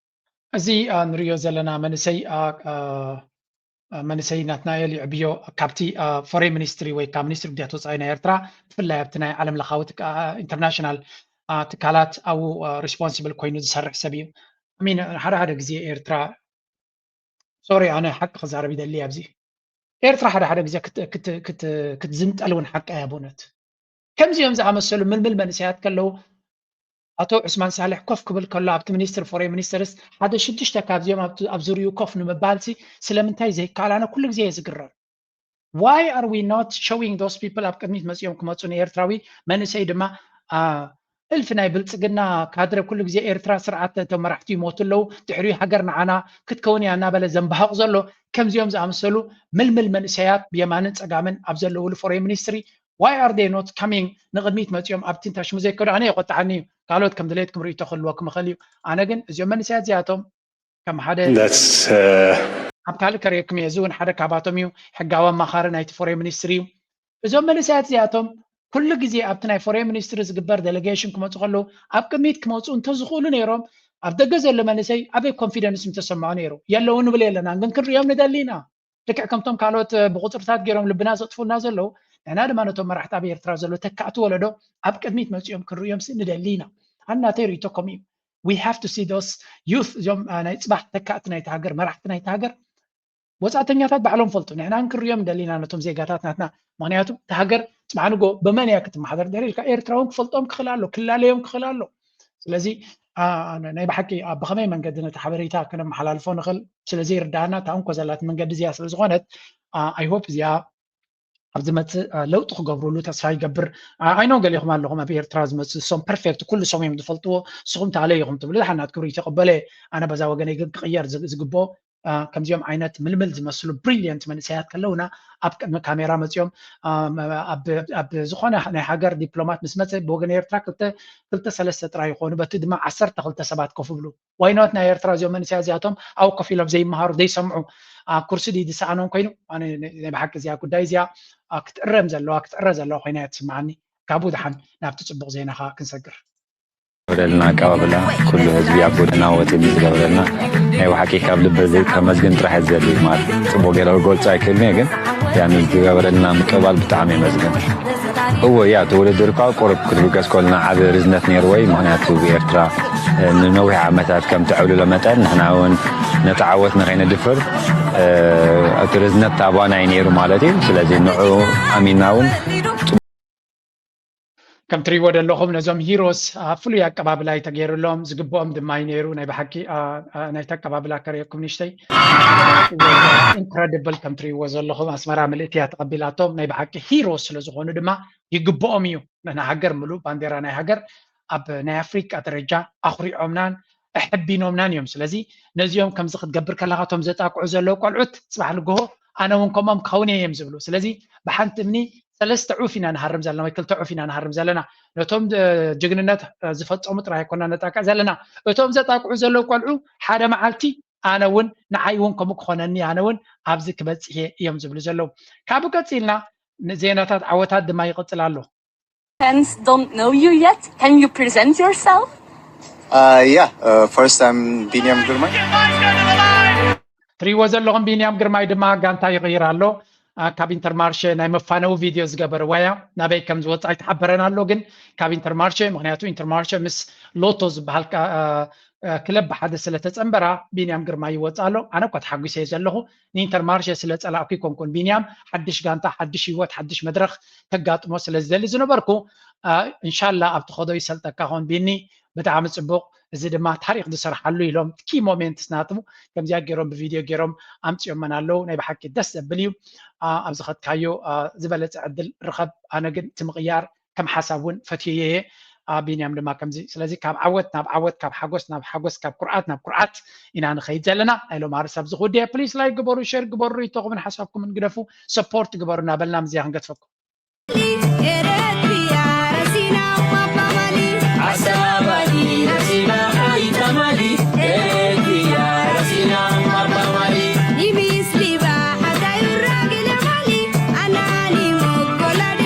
Speaker 13: እዚ
Speaker 1: ንሪኦ ዘለና መንእሰይ መንእሰይ ናትናኤል ይዕብዮ ካብቲ ፎሬን ሚኒስትሪ ወይ ካብ ሚኒስትሪ ጉዳያት ወፃኢ ናይ ኤርትራ ብፍላይ ኣብቲ ናይ ዓለም ለኻዊ ኢንተርናሽናል ትካላት ኣብኡ ሪስፖንስብል ኮይኑ ዝሰርሕ ሰብ እዩ ሚን ሓደ ሓደ ግዜ ኤርትራ ሶሪ ኣነ ሓቂ ክዛረብ ይደሊ ኣብዚ ኤርትራ ሓደ ሓደ ግዜ ክትዝንጠል እውን ሓቂ እያ ብእውነት ከምዚኦም ዝኣመሰሉ ምልምል መንእሰያት ከለዉ ኣቶ ዑስማን ሳልሕ ኮፍ ክብል ከሎ ኣብቲ ሚኒስትሪ ፎሬን ሚኒስትርስ ሓደ ሽዱሽተ ካብዚኦም ኣብቲ ኣብ ዙርይኡ ኮፍ ንምባልሲ ስለምንታይ ዘይከኣል ኣነ ኩሉ ግዜ እየ ዝግረም ዋይ ኣር ዊ ኖት ሾዊንግ ዶስ ፒፕል ኣብ ቅድሚት መፂኦም ክመፁ ንኤርትራዊ መንእሰይ ድማ እልፊ ናይ ብልፅግና ካድረ ኩሉ ግዜ ኤርትራ ስርዓት እቶም መራሕቲ ይሞቱ ኣለዉ ድሕሪኡ ሃገር ንዓና ክትከውን እያ እናበለ ዘንባህቕ ዘሎ ከምዚኦም ዝኣመሰሉ ምልምል መንእሰያት ብየማንን ፀጋምን ኣብ ዘለውሉ ፎሬን ሚኒስትሪ why are they not coming ንቕድሚት መጺኦም ኣብቲ ታሽሙ ዘይከዱ ኣነ የቆጥዓኒ እዩ ካልኦት ከም ድሌትኩም ርእይቶ ክህልወኩም ይኽእል እዩ ኣነ ግን እዚኦም መንእሰያት እዚኣቶም ከም ሓደ ኣብ ካልእ ከርእየኩም እየ እዚ እውን ሓደ ካባቶም እዩ ሕጋዊ ኣማኻሪ ናይቲ ፎሬን ሚኒስትሪ እዩ እዞም መንእሰያት እዚኣቶም ኩሉ ግዜ ኣብቲ ናይ ፎሬን ሚኒስትሪ ዝግበር ደሌጌሽን ክመፁ ከለዉ ኣብ ቅድሚት ክመፁ እንተዝኽእሉ ነይሮም ኣብ ደገ ዘሎ መንእሰይ ኣበይ ኮንፊደንስ ምተሰምዖ ነይሩ የለዉ ንብል የለናን ግን ክንሪኦም ንደሊ ኢና ልክዕ ከምቶም ካልኦት ብቁፅርታት ገይሮም ልብና ዘጥፉልና ዘለዉ ንሕና ድማ ነቶም መራሕቲ ኣብ ኤርትራ ዘሎ ተካእቲ ወለዶ ኣብ ቅድሚት መፂኦም ክንርእዮም ንደሊ ኢና ኣን ናተይ ርእቶ ከምኡ እዩ ዊ ሃቭ ቱ ሲ ዶስ ዩት እዚኦም ናይ ፅባሕ ተካእቲ ናይቲ ሃገር መራሕቲ ናይቲ ሃገር ወፃእተኛታት ባዕሎም ፈልጡ ንሕና ክንርእዮም ንደሊ ኢና ነቶም ዜጋታት ናትና ምክንያቱ እቲ ሃገር ፅባሕ ንጎ ብመን እያ ክትመሓደር ድሕሪ ኢልካ ኤርትራ እውን ክፈልጦም ክኽእል ኣሎ ክላለዮም ክኽእል ኣሎ ስለዚ ናይ ብሓቂ ኣብ ብኸመይ መንገዲ ነቲ ሓበሬታ ክነመሓላልፎ ንኽእል ስለዘይርዳእና እታ እንኮ ዘላት መንገዲ እዚኣ ስለዝኾነት ኣይሆፕ እዚኣ ኣብ ዝመፅእ ለውጢ ክገብርሉ ተስፋ ይገብር ኣይኖ ገሊኹም ኣለኹም ኣብ ኤርትራ ዝመፅ ሶም ፐርፌክት ኩሉ ሶም እዮም ዝፈልጥዎ ንስኹም ተኣለይ ኢኹም ትብሉ ዝሓናት ክብሪ ተቐበለ ኣነ በዛ ወገነይ ግን ክቕየር ዝግብኦ ከምዚኦም ዓይነት ምልምል ዝመስሉ ብሪልየንት መንእሰያት ከለውና ኣብ ቅድሚ ካሜራ መፅኦም ኣብ ዝኾነ ናይ ሃገር ዲፕሎማት ምስ መፀ ብወገን ኤርትራ ክልተ ሰለስተ ጥራይ ይኾኑ በቲ ድማ ዓሰርተ ክልተ ሰባት ኮፍ ይብሉ ዋይኖት ናይ ኤርትራ እዚኦም መንእሰያ እዚኣቶም ኣብ ኮፍ ኢሎም ዘይመሃሩ ዘይሰምዑ ኩርሲ ድዩ ዝሰኣኖም ኮይኑ ኣነ ናይ ብሓቂ እዚኣ ጉዳይ እዚኣ ክትእረም ዘለዋ ክትዕረ ዘለዋ ኮይና እያ ትስምዓኒ ካብኡ ድሓን ናብቲ ፅቡቕ ዜናኻ ክንሰግር ዝገብረልና
Speaker 14: ኣቀባብላ ኩሉ ህዝቢ ኣብ ጎደና ወፂኡ ዝገብረልና ናይ ብሓቂ ካብ ልበ ከመስግን ጥራሕ ዝደሊ ማለት ፅቡቅ ገለ ክገልፆ ኣይክእልን እየ ግን ያ ዝገበረልና ምቅባል ብጣዕሚ የመስግን እዎ ያ እቲ ውድድር እኳ ቁርብ ክትብገስ ኮልና ዓብ ርዝነት ነይርዎ እዩ ምክንያቱ ብኤርትራ ንነዊሕ ዓመታት ከም ትዕብልሎ መጠን ንሕና እውን ነቲ ዓወት ንከይነድፍር እቲ ርዝነት ታባና እዩ ነይሩ ማለት እዩ ስለዚ ንዑ ኣሚና እውን
Speaker 1: ከም ትሪእዎ ዘለኹም ነዞም ሂሮስ ኣብ ፍሉይ ኣቀባብላ እዩ ተገይሩሎም ዝግብኦም ድማ እዩ ነይሩ ናይ ብሓቂ ናይቲ ኣቀባብላ ከርእየኩም ንሽተይ ኢንክረዲብል ከም ትሪእዎ ዘለኹም ኣስመራ ምልእቲ እያ ተቐቢላቶም ናይ ብሓቂ ሂሮ ስለ ዝኾኑ ድማ ይግብኦም እዩ ንሃገር ምሉእ ባንዴራ ናይ ሃገር ኣብ ናይ ኣፍሪቃ ደረጃ ኣኹሪዖምናን ኣሐቢኖምናን እዮም ስለዚ ነዚኦም ከምዚ ክትገብር ከለካ እቶም ዘጣቅዑ ዘለዉ ቆልዑት ፅባሕ ንግሆ ኣነ እውን ከምኦም ክኸውን እየ እዮም ዝብሉ ስለዚ ብሓንቲ እምኒ ሰለስተ ዑፍ ኢና ንሃርም ዘለና ወይ ክልተ ዑፍ ኢና ንሃርም ዘለና ነቶም ጅግንነት ዝፈፀሙ ጥራይ ኣይኮና ነጣቅዕ ዘለና እቶም ዘጣቅዑ ዘለዉ ቆልዑ ሓደ መዓልቲ ኣነ እውን ንዓይ እውን ከምኡ ክኾነኒ ኣነ እውን ኣብዚ ክበፅሕ እየ እዮም ዝብሉ ዘለዉ ካብኡ ቀፂልና ዜናታት ዓወታት ድማ ይቕፅል ኣሎ Fans
Speaker 15: don't know you yet. Can you present yourself? Uh, yeah, uh,
Speaker 16: first I'm Biniam Gurmai.
Speaker 1: ትሪዎ ዘለኹም ቢንያም ግርማይ ድማ ጋንታ ይቕይር ኣሎ ካብ ኢንተርማርሸ ናይ መፋነዊ ቪድዮ ዝገበረ ዋያ ናበይ ከም ዝወፅ ኣይተሓበረን ኣሎ ግን ካብ ኢንተርማርሸ ምክንያቱ ኢንተርማርሸ ምስ ሎቶ ዝበሃል ክለብ ብሓደ ስለተፀንበራ ቢንያም ግርማ ይወፅ ኣሎ ኣነ እኳ ተሓጒሰ ዘለኹ ንኢንተርማርሸ ስለ ጸላእኩ ኣይኮንኩን ቢንያም ሓድሽ ጋንታ ሓድሽ ህይወት ሓድሽ መድረኽ ከጋጥሞ ስለ ዝደሊ ዝነበርኩ እንሻላ ኣብ ትኸዶ ይሰልጠካ ኾን ቢኒ ብጣዕሚ ጽቡቕ እዚ ድማ ታሪክ ዝሰርሓሉ ኢሎም ኪ ሞሜንትስ ናቱ ከምዚኣ ገይሮም ብቪድዮ ገይሮም ኣምፅኦመን ኣለው ናይ ብሓቂ ደስ ዘብል እዩ ኣብ ዝኸትካዮ ዝበለፀ ዕድል ርኸብ ኣነ ግን እቲ ምቕያር ከም ሓሳብ ውን ፈትየዮ እየ ቢንያም ድማ ከምዚ ስለዚ ካብ ዓወት ናብ ዓወት ካብ ሓጎስ ናብ ሓጎስ ካብ ኩርዓት ናብ ኩርዓት ኢና ንኸይድ ዘለና ናይ ሎማሪ ሳብ እዚ ክውድእ እየ ፕሊስ ላይክ ግበሩ ሸር ግበሩ ርኢቶኹምን ሓሳብኩምን ግደፉ ሰፖርት ግበሩ እናበልና ምዝያ ክንገትፈኩም